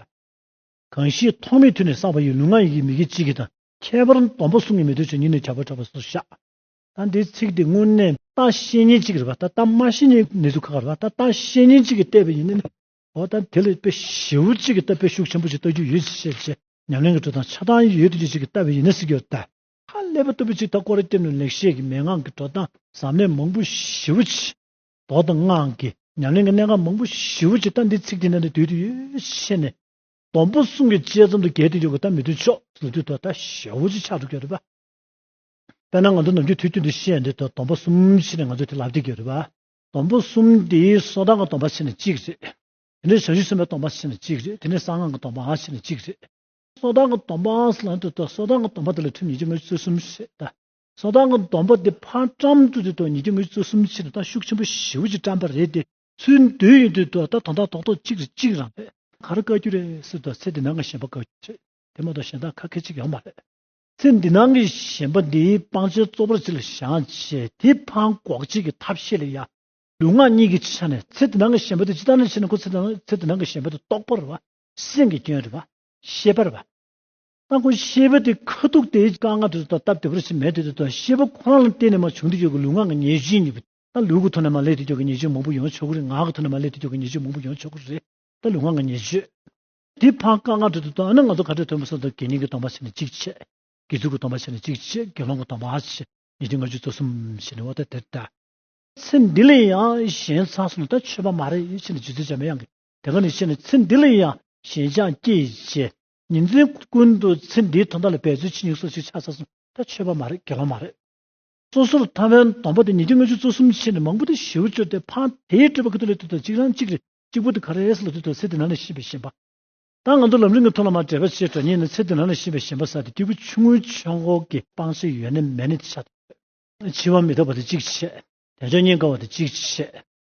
གང་ཞིག་ཐོག་མེད་དུས་ནས་བསགས་པ་ཡི་ལུས་ངག་ཡིད་ཀྱི་མིག་གི་གཅིག་གི་དང། ཁྱད་པར་སྡོམ་པ་གསུམ་གྱི་མི་འདོད་ཆོས་ཉིད་ནི་བྱ་བར་གྲགས་པ་སོགས་སུ་བཞག། ད་འདིའི་ཚིག་འདི་དངོས་གནས། ད་བཤེས་གཉེན་གཅིག་རེད་པ་ད་ད་མ་བཤེས་གཉེན་ནི་དུ་ག་ག་རེད་པ་ད་ད་བཤེས་གཉེན་གཅིག་གིས་བལྟས་པ་ཡིན་ན་ནི། འོ་ད་དེ་ལ་དཔེ་ཞིབ་བོ་གཅིག་གིས་ལྟ་དཔེ་ཤུགས་ཆེན་པོ་ཅིག་ལྟ་རྒྱུ་ཡོད་ཅེས་བཤད་པ་ཞེས་ཉམས་ལེན་གྱི་ཁྲོད་དང་ཆགས་སྡང་ཡོད་དུ་གཅིག་གིས་ལྟ་བས་ཡིན་ན་སྲིད་རྒྱུ་ལྟ། ཧ་ལས་པ་ལྟ་བུ་ཅིག་ད་ཀོ་རེ་སྐྱབས་ནས་ལེགས་བཤད་ཀྱི་མན་ངག་གི་འགྲོ་སྟངས་ཟབ་གནད་མང་པོ་ཞིབ་པོ་ཆེ། མདོ་དང་སྔགས་ཀྱི་ཉམས་ལེན་གྱི་གནད་འགག་མང་པོ་ཞིབ་པོ་ཆེ་ད་འདི་ཚིག་དེ་འདྲ་འདི་དུས་དེ་ཡོད་བཤད་ནས། སྡོམ་པོ་གསུམ་གྱི་དཔྱད་རྩོམ་དུ་གལ་ཏེ་ཡོད་པ་ད་མི་དུས་ཕྱོགས་སུ་དུས་ཐོག་ད་ཞལ་བོ་ཅིག་ཕྱག་ཏུ་འཁྱོལ་རེད་པ། དཔེར་ན་ང་ཚོ་ནམ་རྒྱུན་དུས་དུས་འདི་བཤད་འདི་དུ་སྡོམ་པོ་གསུམ་བཤད་ནས་ང་ཚོས་དེ་ལབ་ཏེ་འཁྱོལ་རེད་པ། སྡོམ་པོ་གསུམ་དེའི་སོ་ཐར་གྱི་སྡོམ་པ་བཤད་ནས་གཅིག་རེད། དེ་ནས་བྱང་ཆུབ་སེམས་དཔའི་སྡོམ་པ་བཤད་ནས་གཅིག་རེད་དེ་ནས་གསང་སྔགས་ཀྱི་སྡོམ་པའང་བཤད་ནས་གཅིག་རེད། སོ་དང་གི་སྡོམ་པའང་སླ་འདོད་དོ་སོ་དང་གི་སྡོམ་པ་དེ་ལ་ཐུན་ཉི་ཁྱི་ངོས་བཅུ་གསུམ་ཞེས་བྱ། སོ་དང་གི་སྡོམ་པ་དེ་ཕར་བཀྲམ་དུ་དེ་དང་ཉི་ཁྱི་ངོས་བཅུ་གསུམ་ཕྱིར་དང་ཤུགས་ཆེན་པོ་བཞིའུ་ཅིག་བཀྲམ་པ་རེད་དེ། ཚུལ་མདོས་ཡིན་དུས་དུ་ད་དོན་དག་ཐོག་ཐོག་གཅིག་རེ་གཅིག་རང་བས། གར་བཀའ་རྒྱུ་རེད་ཟེར་དུ་ཚེ་འདི་ནང་གི་གཞན་པ་བཀའ་རྒྱུ་བྱེད་དེ་མ་གཏོགས་གཞན་དག་ཁ་ཁད་ཅིག་ཡང་མ་རེད། ཚེ་འདི་ནང་གི་གཞན་པ་འདི་སྤང་བྱའི་གཙོ་བོར་ཅིག་ལ་བཞག་བྱས་དེ་ཕང་འགོག་བྱེད་ཀྱི་ཐབས་ཤེས་ལ་ཡ། ལུས་ངག་གཉིས་ཀྱི་ཆ་ནས་ཚེ་འདི་ནང་གི་གཞན་པ་དེ་ཅི་ལྟར་ན་བྱས་ན་ཁོ་ཚེ་འདི་ནང་གི་གཞན་པ་དེ་རྟོགས་པར་བ། སེམས་ཀྱི་སྐྱོན་རེད་བ། ཤེས་པར་བ། རྟག་གོ་ཤེས་པ་དེ་ཁ་ཐུག་དེའི་དཀའ་ངལ་དེ་ཚོ་དང་སྟབས་བདེ་བོར་ཕྱིན་མེད་དེ་ཚོ་དང་ཤེས་པ་ཁོ་རང་ལ་བརྟེན་ནས་མ་བྱུང་དུས་ཀྱི་ལུས་ངག་གི་ཉེས་སྤྱོད་གཉིས་པོ་དང་ལུས་ཀྱི་ཐོག་ནས་མ་ལས་དུས་ཀྱི་ཉེས་སྤྱོད་མང་པོ་ཡོང་ཆོག་གི་རེད་ངག་གི་ཐོག་ནས་མ་ལས་དུས་ཀྱི་ཉེས་སྤྱོད་མང་པོ་ཡོང་ཆོག་གི་རེད་དང་ལུས་ངག་གི་ཉེས་སྤྱོད་དེ་ཕར་དཀའ་ངལ་དེ་ཚོ་དང་ཨ་ནི་ང་ཚོ་ཁ་བྲལ་དོན་པ་སོགས་དང་དགེ་རྙིང་གི་སྟོང་པ་ཕྱེ་ནས་གཅིག་བྱས། དགེ་ཚུལ་གྱི་སྟོང་པ་ཕྱེ་ནས་གཅིག་བྱས་དགེ་སློང་གི་སྟོང་པ་ཕྱེ་ཉིས་ཁྲི་ལྔ་བཅུ་རྩ་གསུམ་བྱས་ནས་འོ་ད་དེ་ལྟ། ཚེ་འདི་ལས་ཡང་གཞན་ཚང་སོང་ན་ད་ཆོས་པ་མ་རེད་ཕྱིན་ནས་ཇི་ཚོད་བྱ་མི་ཡང་གི་དེ་ག་ནས་ཤེས་ན་ཚེ་འདི་ལ་ཡང་ཞེན་ཆགས་སྐྱེ་ཞེས་ཉིན་མཚན་ཀུན་ཏུ་ཚེ་འདིའི་དོན་དག་ལ་འབད་རྩོལ་ཇི་སྙེད་སོགས་ཤིག་ཆགས་ཚར་སོང་ད་ཆོས་པ་མ་རེད་དགེ་བ་མ་རེད། སོ་སོར་ཐར་བའི་སྡོམ་པ་དེ་ཉིས་བརྒྱ་ལྔ་བཅུ་རྩ་གསུམ་ཕྱེ་ནས་མང་པོ་དེ་བཞིའུ་བཅོ་དེ་འཕང་དེའི་སྤྲོས་པ་ཀུན་ཏུ་ལས་དུས་དང་གཅིག་རང་གཅིག་རེ་གཅིག་པོ་དེ་ག་རེས་ལ་དུས་དང་ཚེ་དེ་ན་ནས་ཤེས་པའི་ཞེན་པ་དང་ང་ཚོ་ལམ་རིང་གི་ཐོག་ལ་མ་བྲལ་བ་ཆེས་དྲོ་ཉེ་ནས་ཚེ་དེ་ན་ནས་ཤེས་པའི་ཞེན་པ་ཟ་དེ་སྐྱེ་རྒུ་ཆུང་ངུའི་ཆོས་འཁོར་གྱི་སྤང་བྱའི་ཡོན་ནི་མེད་ནས་ཆ་དོད། འཆི་བ་མི་རྟག་པ་དེ་གཅིག་བྱེད། དལ་འབྱོར་སྙིང་དཀར་བ་དེ་གཅིག་བྱེད།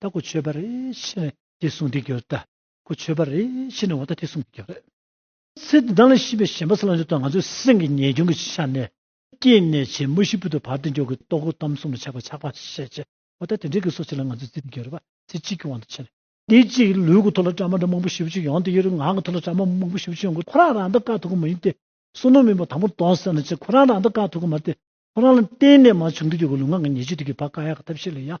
ད་གོ་ཆོད་པ་རེ་ཤི་ནས་དེ་སྲུང་དེ་གྱུར། ད་གོ་ཆོད་པ་རེ་ཤི་ནས་འོ་ད་དེ་སྲུང་དེ་གྱུར། ཚེ་འདི་དག་ལ་ཤི་བའི་ཞེན་པ་སླ་འགྱུར་དང་ང་ཚོའི་སེམས་ཀྱི་ཉེས་སྐྱོན་གྱི་ཆ་ནས། སྐྱེས་ནས་བྱེད་མུ་བཞི་པོ་དུ་བར་དུ་འཇོག་གི་རྟོག་གོ་གཏམ་གསུམ་ལ་ཆགས་པ་ཆགས་པ་ཤས་ཆེ། འོ་ད་དེ་འདྲའི་གི་སོ་ཆེ་ལ་ང་ཚོའི་རྩིས་དེ་གྱུར་པ་ཚེ་གཅིག་གི་དབང་དུ་ཕྱིན། དེ་གཅིག་ལུས་ཀྱི་ཐོག་ལ་བཀྲ་མ་འདྲ་མང་པོ་བཞི་བཅུ་ཡོང་དེ་ཡོད་ངང་གི་ཐོག་ལ་བཀྲ་མ་མང་པོ་བཞི་བཅུ་ཡོང་གི་ཁོ་རང་རང་ད་ག་ཐུག་གི་མ་ཡིན་ཏེ། སྲུང་ནོར་མིན་པ་དང་པོ་གདོན་བསལ་ན་ཅིག་ཁོ་རང་རང་ད་ག་ཐུག་གི་མ་སྟེ། ཁོ་རང་ལ་གཏན་ནས་མ་བྱུང་དུ་གྱུར་གི་ལུས་ངག་གི་ཉེས་སྤྱོད་དེ་གྱུར་པ་དཀའ་ཡག་གི་ཐབས་ཤེས་ལ་ཡང་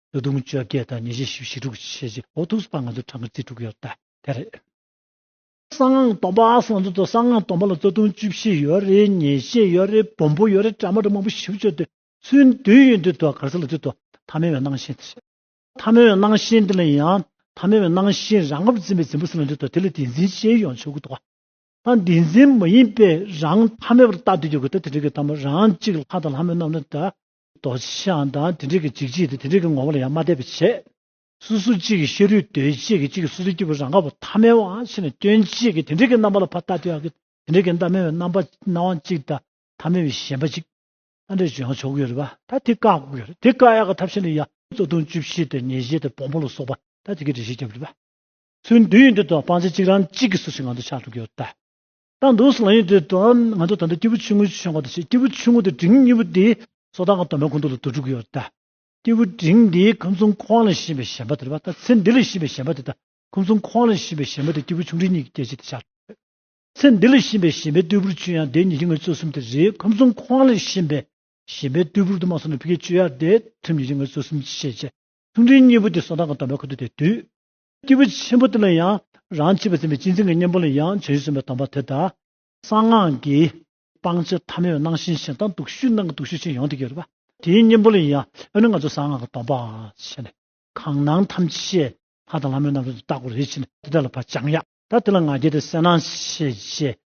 ལོ་དུང་ཕྱུར་བརྒྱད་དང་ཉེར་བཞི་ཞེ་བཞི་དྲུག་ཅུ་ཞེ་བཞི་འོ་ཐུག་སུ་པ་ང་ཚོའི་གྲངས་ཀྱི་རྩིས་དྲུག་ཡོད་ད་དེ་རེད། གསང་སྔགས་སྡོམ་པ་སོགས་ཚོ་ཚོ་གསང་སྔགས་སྡོམ་པ་ལ་ལྟོ་དུང་བཅུ་བཞི་ཡོད་རེད་ཉེར་བཞི་ཡོད་རེད་བོན་པོ་ཡོད་རེད་བྲ་མ་དྲ་མང་པོ་བཞི་བཅུ་དེ་ཚོའི་མདུན་ཡོད་འདུག་དོ་གར་ས་ལ་དུས་དོ་ཐ་མལ་བའི་སྣང་བཞིན་དེ་རེད། ཐ་མལ་བའི་སྣང་བཞིན་དེ་ལ་ཡང་ཐ་མལ་བའི་སྣང་བཞིན་རང་ངོ་བོ་འཛིན་པའི་འཛིན་པ་ས་ལ་འདུག་དོ་དེ་ལ་འདི་འཛིན་བྱེད་ཡོང་ཆོག་གི་འདུག་ག་ད་འདི་འཛིན་མ་ཡིན་པས་རང་ཐ་མལ་བར་བརྟག་དུས་ཡོད་གི་དོ་དེ་རིགས་ཀྱི་ཐ་མ་རང་གཅིག་ལྷ་དང་ལྷ་མོ་རྣམས་ལ་དེ་རྡོ་རྗེ་འཆང་དང་དེ་འབྲེལ་གྱི་འཇིགས་བྱེད་དེ་དེ་འབྲེལ་གྱི་ངོ་བོ་ལ་ཡང་མ་བལྟས་པར་བྱས། སོ་སོ་གཅིག་གི་ཤེས་རུས་གདོས་བཅས་ཀྱི་གཅིག་གི་སོ་སོའི་སྐྱེས་བུ་རང་དགའ་བོ་ཐ་མལ་བ་ཕྱེ་ནས་སྐྱོན་བཅས་ཀྱི་དེ་འབྲེལ་གྱི་རྣམ་པ་ལ་ཕ་རྟག་ཏུའང་གི་དེ་འབྲེལ་གྱི་རྣམ་སྨིན་བའི་རྣམ་པ་སྣང་བ་གཅིག་དང་ཐ་མལ་བའི་ཞེན་པ་གཅིག། རྟ་འདྲེ་བྱོན་ཡང་བྱོ་གུ་ཡོད་རེད་པ་ད་དེ་བཀག་དགོས་རེད་དེ་བཀག་ཡག་གི་ཐབས་ཤེས་ནི་ཡ། གཙོ་བརྡུང་བཅུ་བཞི་དང་ཉེས་བྱས་དང་བོང་བུ་ལ་སོགས་པ་ད་དེ་གའི་འདྲེ་ཞིག་བརྒྱབ་རེད་པ། ཚུར་འདུས་ཡོད་འདི་དང་སྤང་བྱ་གཅིག་རང་གཅིག་གི་སོ་སོའི་ངང་དུ་ཆགས་འགྲོ་གི་ཡོད་རེད་པ། བཏང་འདུག་སང་ཉིན་དེ་དུའང་ང་ཚོ་ད་ལྟ་སྐྱེས་བུ་ཆུང་ངུའི་ཆོས་འགོ་དང་ཞེས་སྐྱེས་བུ་ཆུང་ངུ་དེ་འབྲིང་གཉིས་པོ་དེའི་སོ་ཐར་ཁང་དོ་མའི་ཁུང་ཐུག་ལ་དུར་འཁྲུག་གི་ཡོད་ལ། སྐྱེས་བུ་འབྲིང་དེ་ཁམས་གསུམ་ཁོང་ལ་བྱིན་པའི་ཞལ་འབག་དེ་རེད་པ་ད་ཚེ་འདི་ལ་བྱིན་པའི་ཞལ་འབག་དེ་ད་ཁམས་གསུམ་ཁོང་ལ་བྱིན་པའི་ཞལ་འབག་དེ་སྐྱེས་བུ་ཆུང་འབྲིང་གཉིས་ཀྱི་སྐྱེ་མཆེད་དེ་ཆགས་ཡོད། ཚེ་འདི་ལ་བྱིན་པའི་ཞལ་འབག་རྟུལ་ཕུར་ཆུ་ཡང་དེ་ཉིད་ཀྱི་ངོས་བཙོ་གསུམ་དེ་རེད་ཁམས་གསུམ་ཁོང་ལ་བྱིན་པའི་ཞལ་འབག་རྟུལ་ཕུར་དུ་མ་སོང་ན་ཕི་ཀའི་ཆུ་ཡང་དེ་ཐུམ་ཉིད་ཀྱི་ངོས་བཙོ་གསུམ་ཅེས་བཤད། ཆུང་འབྲིང་གཉིས་པོ་དེ་སོ་ཐར་ཁང་དོ་མའི་ཁུང་ཐུག་དེ་དུས། སྐྱེས་བུ་ཆེན་པོ་དེ་ལ་ཡང་རང་བྱིས་པར་ཟིན་པའི་སྤྱི་མཚན་གྱི་གཉེན་པོ་ལ་ཡང་བྱད་གཞི་གསུམ་པའི་དམ་པ་དེ་ལྟ་སྟེ། གསང་སྔགས་ཀྱི། སྤང་བྱ་ཐ་མལ་བ་སྣང་ཞེན་ཞེ་སྡང་དུག་ཤུལ་སྣང་གི་དུག་ཤུལ་ཆེན་ཡོངས་དེ་གེར་བ། དེའི་གཉེན་པོ་ལ་ཡང་ཨེ་ནུ་ང་ཚོ་གསང་སྔགས་ཀྱི་སྡོམ་པའང་བྱེད་ནས། གང་སྣང་ཐམས་ཅད་ཤེས། ལྷ་དང་ལྷ་མོའི་རྣམ་རོལ་དུ་བརྟག་གོ་རེ་བྱས་ནས་དེ་དག་ལ་བར་བཅངས། ཡང་དག་དེ་ལ་ང་རྒྱལ་ཏེ་གསལ་སྣང་ཤེས། ཞེས་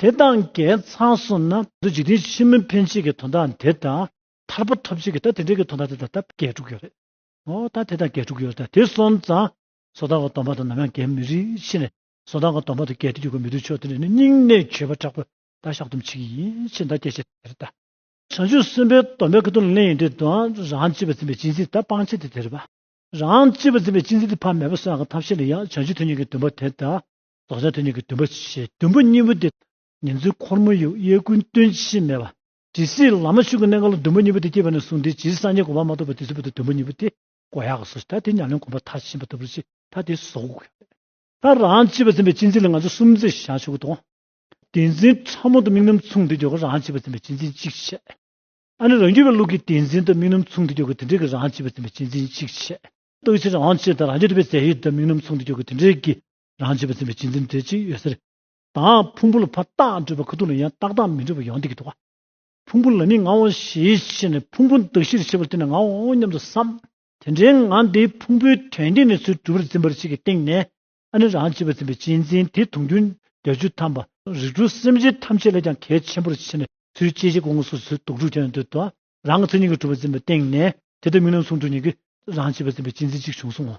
དེ་དང་འགལ་ཚང་སོང་ན། འདི་འཇིག་རྟེན་ཕྱི་མི་འཕེན་བྱེད་ཀྱི་དོན་དག་འདི་དང། ཐར་པ་ཐོབ་བྱེད་ཀྱི་ད་དེ་འདྲའི་གི་དོན་དག་འདི་དང་ད་འགལ་འགྲོ་གི་ཡོད་རེད། ཨོ་ད་དེ་དང་འགལ་འགྲོ་གི་ཡོད་རེད་ད་དེ་སོང་ཙང། སོ་ཐར་བ་སྡོམ་པ་དང་ནམ་ཡང་འགལ་མི་རིགས་ཕྱིར་ནས། སོ་ཐར་བ་སྡོམ་པ་དང་འགལ་ཏེ་འགྱུར་གི་མི་འདུག་ཆོག་དེ་ནས་ནི་སྙིང་གནས་འཆོལ་བ་དྲག་པོས་ད་བཤགས་སྡོམ་བྱེད་ཀྱི་ཡིན་ཕྱིར་ད་སྐྱེ་བྱེད་དེ་རེད་ད། བྱང་ཆུབ་སེམས་དཔའི་སྡོམ་པའི་ཀི་དོན་ལ་གླེང་ཡིན་དུས་དང་རང་གཅེས་པར་འཛིན་པའི་སྤྱིན་སྲེག་ད་སྤང་བྱེད་དེ་དེ་རེད་པ། རང་གཅེས་པར་འཛིན་པའི་སྤྱིན་སྲེག་དེ་ཕ་མེས་པོ་སོགས་ཀྱི་ཐབས་ཤེས་ལ་ཡང་བྱང་ཆུབ་ཐུན་ཉུང་གི་འདུན་པ་དེ་ད། རྡོ་རྗེ་དེ་ཉིད་ཀྱི་འདུན་པ་ཞེས་བདུན་པོ་གཉིས་པོ་དེ་ཉིད་འཛིན་འཁོར་མོ་ཡུག་གཡས་ཀུན་སྟོན་ཇི་བཞིན་སྨྲས་པ། ཇི་སྲིད་ལཱ་མ་ཤུ་ཀའི་གནས་མཁའ་ལ་འདུན་པ་གཉིས་པོ་དེ་སྐྱེས་པ་ནས་བཟུང་སྟེ་ཇི་སྲིད་སངས་རྒྱས་གོ་འཕང་མ་ཐོབ་པ་དེ་སྲིད་བར་དུ་འདུན་པ་གཉིས་པོ་དེ་མགོ་ཡག་གི་སོ་ཞེས་ད་དེ་ཉག་ལན་གོམ་པ་མཐའ་ཕྱིན་པ་ལྟ་བུར་ཅི་ད་དེ་གཟུགས། ད་རང་བྱིས་པ་འཛིན་པའི་སྤྱི་འཛིན་ལ་ང་ཚོ་སུམ་བརྩེགས་བཞག་ཆོག་གི་དང། དེ་འཛིན་ཕྲ་མོ་དང་དམིགས་རྣམ་མཚུངས་དེ་འཇོག་གི་རང་བྱིས་པ་འཛིན་པའི་སྤྱི་འཛིན་གཅིག་བྱས། ཨ་ནི་རང་རྒྱུད་པའི་ལུགས་ཀྱིས་དེ་འཛིན་དང་དམིགས་རྣམ་མཚུངས་དེ་འཇོག་གི་དེ་འདྲེས་ཀྱི་རང་བྱིས་པ་འཛིན་པའི་སྤྱི་འཛིན་གཅིག་བྱས། རྟག་ཆད་རང་བྱེད་དང་རང་བྱེད་འགྲུབ་པའི་རྫས་ཡོད་དེ་དམིགས་རྣམ་མཚུངས་དེ་འཇོག་གི་དེ་འདྲེས་ཀྱི་རང་བྱེད་པར་འཛིན་པའི་བྱེད་འཛིན་དེ་ཅི་ཡོད་ཟེར། དང། ཕུང་པོ་ལ་ཕ་རྟགས་འགྲོས་པ་ཁ་ཐུག་ལ་ཡང་རྟགས་དང་མི་འགྲོས་པ་ཡང་དེ་ཀྱི་ཐུག་པ། ཕུང་པོ་ལ་ནི་ང་འོང་ཞེས་ཤེས་ནས་ཕུང་པོ་འདུ་ཤེས་ཞེས་པར་བརྟེན་ནས་ང་འོང་སྙམ་དུ་བསམ། དེ་འདྲའི་ང་དེ་ཕུང་པོའི་དོན་བསྟན་ནས་ཚུལ་གྲུབ་པར་འཛིན་པར་བྱེད་ཀྱི་སྟེང་ནས་ཨ་ནི་རང་བྱེད་པར་འཛིན་པའི་བྱེད་འཛིན་དེ་དུང་རྒྱུན་བརྒྱ་བཅུ་ཐམ་པ། རིགས་དྲུག་སེམས་ཅན་ཐམས་ཅད་ལས་ཀྱང་གལ་ཆེན་པོར་ཕྱེ་ནས་ཚུལ་སྐྱེ་མཆེད་དགོངས་སུ་ཚུལ་དུག་དྲུག་ཀྱང་འདོད་དོ། རང་གི་ཚུལ་གཉིས་ཀྱིས་གྲུབ་པར་འཛིན་པའི་སྟེང་ནས་དེ་ལྟར་མིང་རྣམས་ཟུང་དྲུག་ཉིད་ཀྱིས་རང་བྱེད་པར་འཛིན་པའི་བྱེད་འཛིན་གཅིག་བྱུང་གསུང་ངོ།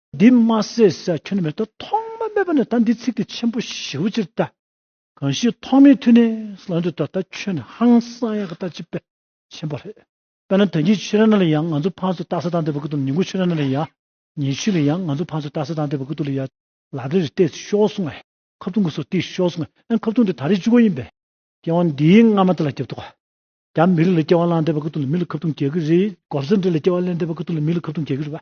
འདི་མ་ཟེར་ས་ཁྱོད་མེད་དོ་ཐོག་མ་མེད་པ་ནི་ད་འདི་ཚིག་དེ་ཆེན་པོ་ཞེ་བོ་ཅིར་ལྟ། གང་ཞིག་ཐོག་མེད་དུས་ནི་སླང་དུས་ད་ད་ཁྱོད་ནི་ཧང་སང་ཡག་གི་ལྟ་ཅི་དཔེ་ཆེན་པོ་རེད། དཔེར་ན་དོན་གྱི་ཆོས་ར་ན་ལ་ཡང་ང་ཚོ་ཕང་ཚོ་ལྟ་ས་དང་དེ་བ་གི་དུམ་ཉིང་ཁུ་ཆོས་ར་ན་ལ་ཡང་ཉེ་ཆུས་ལ་ཡང་ང་ཚོ་ཕང་ཚོ་ལྟ་ས་དང་དེ་བ་གི་དུ་ལ་ཡང་ལ་རེ་རེ་བལྟས་ཚེ་ཤོག་གསུང་ཨེ་ཁབ་ཐུང་གི་སོ་སྟེ་ཤོག་གསུང་ཨེ་ཁབ་ཐུང་དེ་ད་རེས་བཅུ་གོ་ཡིན་པས། སྐྱེ་བ་འདིའི་སྔ་མ་དེ་ལ་སྐྱབས་འདུག་ག། རྒྱ་མི་རིགས་ལ་སྐྱེ་བ་བླངས་དེ་བ་གི་དུ་ལ་མི་ལ་ཁབ་ཐུང་གྱེས་གི་རེད་གོབས་སེར་འདྲེ་ལ་སྐྱེ་བ་བླན་དེ་བ་གི་དུ་ལ་མི་ལ་ཁབ་ཐུང་གྱེས་གི་རེད་བ།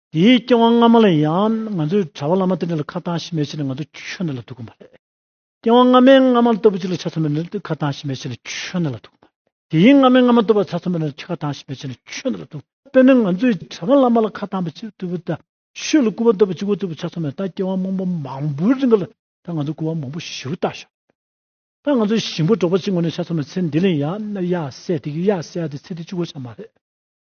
དེའི་སྐྱེ་བ་སྔ་མ་ལ་ཡང་ང་ཚོས་གྲྭ་བ་བླ་མ་དེ་འདྲ་ལ་ཁ་གཏང་ཞིབ་མེད་བྱས་ནས་ང་ཚོ་ཆོས་འདི་ལ་ཐུག་གི་མ་རེད། སྐྱེ་བ་སྔ་མའི་སྔ་མ་ལྟ་བུ་ཅིག་ལ་ཆ་མཚོན་པའི་ནི་ཁ་གཏང་ཞིབ་མེད་བྱས་ནས་ཆོས་འདི་ལ་ཐུག་གི་མ་རེད། དེའི་སྔ་མའི་སྔ་མ་ལྟ་བུ་ལ་ཆ་མཚོན་པའི་ནི་ཁ་གཏང་ཞིབ་མེད་བྱས་ནས་ཆོས་འདི་ལ་ཐུག། དཔེར་ན་ང་ཚོས་གྲྭ་བ་བླ་མ་ལ་ཁ་གཏང་པའི་ཆེད་དུ་བུ་ད་ཤོད་ལ་སྐུར་བ་འདེབས་པ་གཅིག་པུ་ལྟ་བུ་ཆ་མཚོན་པའི་ད་སྐྱེ་བ་མང་པོ་མང་པོའི་རིང་གི་ལ་ད་ང་ཚོས་སྐུར་བ་མང་པོ་ཞིབ་རུ་བཏགས་ཤག་ད་ང་ཚོས་ཞིང་པོ་འབྲོག་པ་གཅིག་ངོ་ནས་ཆ་མཚོན་པའི་ཚེ་འདི་ལ་ཡང་ན་ཡར་བསད་དེ་ཡར་བསད་ཡར་དེ་ཚེ་འདི་གཅིག་པུ་ཆགས་མ་རེད།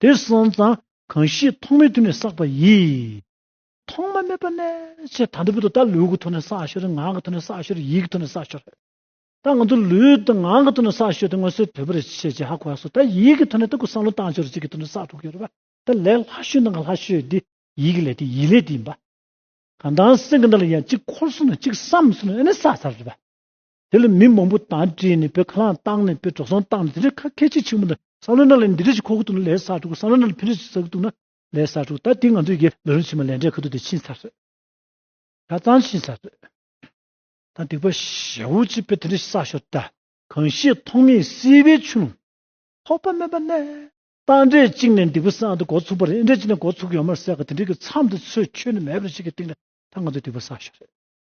དེར་སོང་ཙང་གང་ཞིག་ཐོག་མེད་དུ་ནས་བསགས་པ་ཡིས། ཐོག་མ་མེད་པ་ནས་ཆེས་དང་དུ་བུ་དུ་ད་ལུས་གི་ཐོག་ནས་བསགས་ཤོར་ངག་གི་ཐོག་ནས་བསགས་ཤོར་ཡིད་གི་ཐོག་ནས་བསགས་ཤོར། ད་ང་ཚོ་ལུས་དང་ངག་གི་ཐོག་ནས་བསགས་ཤོར་ཏེ་སྔོན་སོའི་དོད་པོ་རེ་བྱས་རྗེས་ཧ་གོ་བ་སོགས་ད་ཡིད་གི་ཐོག་ནས་ལྟ་གོ་བསམ་བློ་བཏང་ཤོར་ཅིག་གི་ཐོག་ནས་བསགས་འགྲོ་གི་ཡོད་པ་ད་ལས་ལྷ་བཤོས་ནང་གི་ལྷ་བཤོས་འདི་ཡིད་གི་ལས་དེ་ཡིད་ལས་དེ་ཡིན་པ། གང་དང་སེམས་ཀྱི་འདི་ལ་ཡང་གཅིག་འཁོར་སོང་ནས་གཅིག་བསམས་སོང་ནས་ཨེ་ནས་བསགས་ཚར་རེད་པ། དེ་ལ་མི་མང་པོ་དང་བྲིས་ནས་བོད་ཁ་ལང་བཏང་ནས་བོད་འབྲོག་ཟོང་བཏང་ནས་དེ་འདྲའི་ཁ་ཁད་ཆེ་ཆེན་པོ་འདི་སང་ལོའི་ནང་ལས་འདི་འདྲའི་ཞིག་ཁོ་ཁུ་ཐུག་ན་ལས་སར་འགྲོ་སང་ལོའི་ནང་ལས་ཕན་རེ་ཞིག་ཟག་གི་འདུག་ན་ལས་སར་འགྲོ་ད་དེ་ང་ཚོའི་ཡེ་ལ་རུང་ཕྱི་མ་ལས་འབྲས་ཁ་ཐུག་དེ་ཕྱིན་ཚར་རེད། ཆ་ཚང་ཕྱིན་ཚར་རེད། ད་སྡིག་པ་ཞེ་བོ་ཅིག་བོད་དེ་འདྲའི་ཞིག་བསགས་ཞོར་ད་གང་ཤེས་ཐོག་མེད་སྲིད་པའི་ཆུ་ལོང། ཐོག་པ་མེད་པ་ནས་རྟ་འདྲེ་གཅིག་ནས་སྡིག་པ་བསགས་འདི་འགོ་ཚུགས་པ་རེད་འདྲེ་གཅིག་ནས་འགོ་ཚུགས་ཡོད་མ་ཟེར་ག་དེ་འདྲའི་གི་མཚམས་འདི་ཚོས་ཆོད་ནས་མེད་པ་རེད་ཅིག་གི་སྟེང་ལ་ད་ང་ཚོས་སྡིག་པ་བསགས་ཞོར་རེད།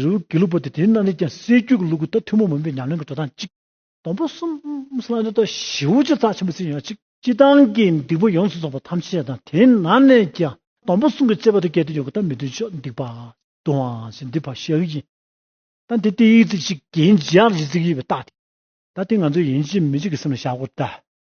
རི་བོ་དགེ་ལུགས་པ་དེ་དེ་རྣམས་ལས་ཀྱང་སེར་སྐྱུ་གི་ལུགས་ཀྱི་རྟ་ཐུན་མོང་མིན་པའི་ཉམས་ལེན་གྱི་འགྲོ་སྟངས་གཅིག། དང་པོ་གསུམ། ལྷ་འདྲེ་རྟ་བཞི་བོ་ཆེ་རྩ་ཆེན་པོ་བརྩིགས་ཡོང་བ་གཅིག། སྤྱི་བཏང་གི་འདུས་པ་ཡོངས་སུ་རྫོགས་པ་ཐམས་ཅད་དང་དེ་ནང་ནས་ཀྱང་དང་པོ་གསུམ་གྱི་བཅས་པ་དུ་སྐྱེ་དུ་ཡོད་དགུ་དང་མི་དུ་ཕྱོགས་འདི་པ། དུ་བ། ཞེས་འདུས་པ་ཞལ་དབྱིབས་ཀྱི། ད་འདི་སྟེ་ཡིག་བརྩེགས་ཤིག་གིན་ཇི་ཡང་རིས་བརྩེགས་ཡིན་པའི་རྟགས་ཏེ། ད་དེ་ང་ཚོའི་ཡིན་གཅིག་མིན་གཅིག་གི་སེམས་ལ་བཞག་གོ།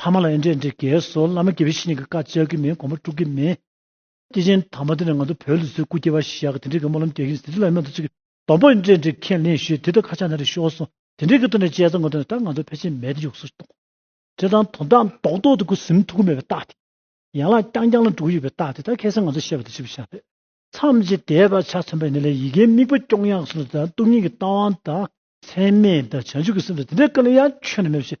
ཕ་མ་ལ་ཨེ་འདྲས་འདྲས་གལ་སོང་བླ་མ་དགེ་བཤེས་གཉིས་ཀྱི་བཀའ་བཅག་གི་མིན་གོང་མ་དཀྲུག་གི་མིན། སྐྱེས་ཆེན་དམ་པ་དེ་ནས་ང་ཚོ་བོད་ལུགས་ཚོའི་སྐུ་སྐྱེ་བ་ཞེས་བྱ་གི་དེ་འདྲས་གི་སྨོན་ལམ་རྒྱག་གིན་ཟིན་བྲིས་ལ་སྨན་ཐོ་གཅིག་གི་དོམ་པོ་ཨེ་འདྲས་འདྲས་ཁས་ལེན་ཞུས་དེ་ལྟར་ཁ་ཆག་ན་རེ་ཤོར་སོང་དེ་འདྲས་གི་ཐོག་ནས་དཔྱད་རྩོམ་གང་ཐོན་ད་ང་ཚོ་ཕལ་ཆེར་མེད་དེ་ཡུགས་སོ་ཏོག་དེ་དང་དོ་དག་མདོག་མདོག་དེ་ཁུ་སིམ་ཐུག་གི་མེད་པའི་རྟགས་དེ། ཡན་ལག་རྐྱང་རྐྱང་ལ་འགྲོ་གི་ཡོད་པའི་རྟགས་དེ་ད་ཁས་སེ་ང་ཚོ་བཤད་པ་དེ་ཅི་བྱ་ཞེ་ན། མཚམས་ཀྱི་དེས་བག་ཆགས་མཚོན་པ་ཡིན་ན་ལས་ཡི་གེའི་དམིགས་པ་སྐྱོང་ཡག་སོང་དང་སྟོང་ཉིད་ཀྱི་རྟགས་དབང་དང། མཚན་མེད་དང་བྱང་ཆུབ་ཀྱི་སེམས་དང་དེ་འདྲས་ག་ལ་ཡང་ཁྱོན་ནས་མེད་པ་ཞིག་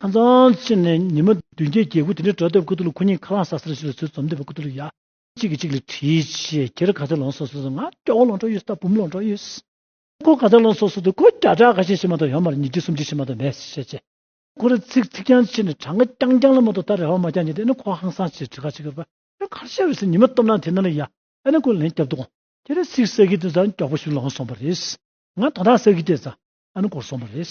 ཨ་ཙང་ཅི་ནས་ཉི་མ་བདུན་བརྒྱད་བརྒྱད་དགུ་དེ་འདྲའི་འགྲོ་སྡོད་ཀུ་ཏུ་ལུ་ཁུ་ཉིན་ཁ་རླངས་ཟ་ཟེར་ཞིག་ལ་ཚུལ་འཛོམས་ལྡན་པའི་ཀུ་ཏུ་ལུ་ཡ། གཅིག་གིས་གཅིག་ལ་དྲིས་ཆེ་ཁྱེད་ར་ག་ཚོད་ལོངས་སོ་སོ་སོ་ང་སྐྱོ་བོ་ལོངས་གྲོགས་ཡོད་སྟབས་བུམ་ལོངས་གྲོགས་ཡོད། ཁོ་ག་ཚོད་ལོངས་སོ་སོ་སོ་ཁོ་བརྒྱ་ཕྲག་ཁ་ཤས་ཤི་མ་ཐོག་ཡོང་མར་ཉིས་བརྒྱ་སུམ་བརྒྱ་ཤི་མ་ཐོག་མེད་ཟེར་ཤས་ཆེ། ཁོ་ར་ཚིག་ཚིག་རྐྱང་ཆེ་ནས་གྲངས་ཀ་རྐྱང་རྐྱང་ལ་མ་ཐོག་ད་རེ་བ་མ་རྐྱང་ཉིད་དེ་ནི་ཁོ་ཧང་སང་ཆེ་བྲི་ག་ཆེ་གི་ར་བ། ཁོ་གར་ཤར་བས་སུ་ཉི་མ་སྟོབས་ན་དེ་ན་ལ་ཡ། ཨ་ནི་ཁོ་ལན་བརྒྱབ་འདུག་ཁྱེད་ར་ཚིག་ས་གི་དེ་ཚ་མགྱོགས་པོ་ཞིག་ལོངས་སོང་བ་རེད། ང་དོ་ཐག་ས་གི་དེ་ཚ་ཨ་ནི་གོར་སོང་བ་རེད།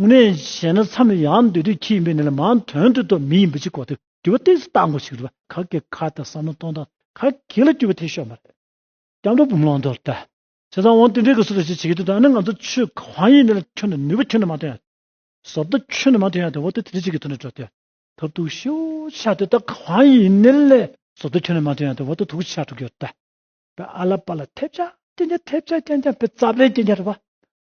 དངོས་གནས་བཤད་ན་མཚམས་རེ་ཡང་འདོད་དུས་ཁྱི་ཡིན་པའི་གནས་ལ་མང་དོན་དུ་དོ་མི་ཡིན་པ་ཅིག་གོ་ཐུབ་གི་བ་སྟེགས་སུ་བཏགས་འགོ་ཞིག་རེད་པ་ག་གེ་ག་དང་བསམ་བློ་གཏོང་སྟངས་ག་གེ་ལ་སྐྱོ་བའི་ཐད་ཤོག་མ་རེད། སྐྱབས་འགྲོ་བུམ་ལོང་དོར་ཏེ། བྱས་ཙང་དབང་བསྟན་འགྲེལ་དགོས་སུ་ལ་ཞིག་བྱེད་ཀྱི་འདུག་ད་ནི་ང་ཚོ་ཆོས་གང་ཡིན་ནི་ལ་ཁྱོན་ནས་ནུས་པ་ཁྱོན་ནས་མ་ཐོན་ཡ་ཟོར་ལྟ་ཁྱོན་ནས་མ་ཐོན་ཡ་དེ་འོ་ལྟ་དེ་འདྲ་ཅིག་གི་ཐོག་ནས་འགྲོ་ཐལ་ཐབས་ཐུག་ཤོ་ཆག་དེ་ད་གང་ཡིན་ནི་ལ་ཟོར་ལྟ་ཁྱོན་ནས་མ་ཐོན་ཡ་དེ་འོ་ལྟ་ཐུག་ཆག་འགྲོ་གི་ཡོད་ད། པའི་ཨ་ལ་པ་ལ་ཐེབས་ཆག་སྐྱེན་ཆག་ཐེབས་ཆག་སྐྱེན་ཆག་པའི་རྩ་བའི་སྐྱེན་ཆག་རེད་པ།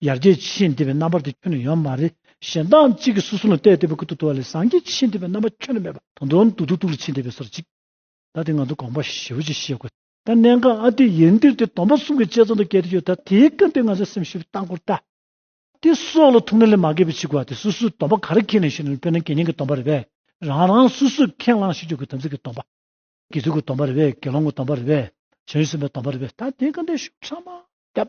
ཡར་རྒྱས་ཀྱི་ཤེས་འདི་པའི་རྣམ་པར་དེ་ཁྱོན་ནས་ཡོད་མ་རེད་གཞན་དག་གཅིག་གིས་སོ་སོ་ལ་བལྟས་བལྟས་པའི་ཁུ་ཐུག་ཐུག་བ་ལས་སངས་རྒྱས་ཀྱི་ཤེས་འདི་པའི་རྣམ་པ་ཁྱོན་ནས་མེད་པ་དོན་དོན་ཏུ་ཐུག་ཐུག་ལ་ཕྱིན་བསྡད་པའི་སོར་གཅིག་ད་དེ་ང་ཚོ་དགོངས་པ་ཞེ་བོ་ཅིག་ཤེས་དགོས། ད་གནད་འགག་ཨ་དེ་ཡིན་དུས་དེ་སྡོམ་པ་གསུམ་གྱི་དཔྱད་རྩོམ་དུ་བཀལ་དུ་ཡོད་ད་དེའི་སྐབས་དེ་ང་ཚོས་སེམས་ཞིབ་བཏང་གོ་ད། དེ་སྲོག་ལ་ཐུག་ན་ལས་མ་འགལ་བའི་ཕྱིར་གོ་ད་སོ་སོའི་སྡོམ་པ་ག་རེ་ཁེངས་ནས་ཞུ་ན་དཔེར་ན་དགེ་བསྙེན་གྱི་སྡོམ་པ་རེ་བས་རང་རང་སོ་སོས་ཁས་བླངས་ཤིག་ཆོས་ཀྱི་དམ་ཚིག་གི་སྡོམ་པ། དགེ་ཚུལ་གྱི་སྡོམ་པ་རེ་བས་དགེ་སློང་གི་སྡོམ་པ་རེ་བས་བྱང་ཆུབ་སེམས་དཔའི་སྡོམ་པ་རེ་བས་ད་དེའི་སྐབས་དེ་ཤུགས་ཕྲ་མ་བརྒྱབ།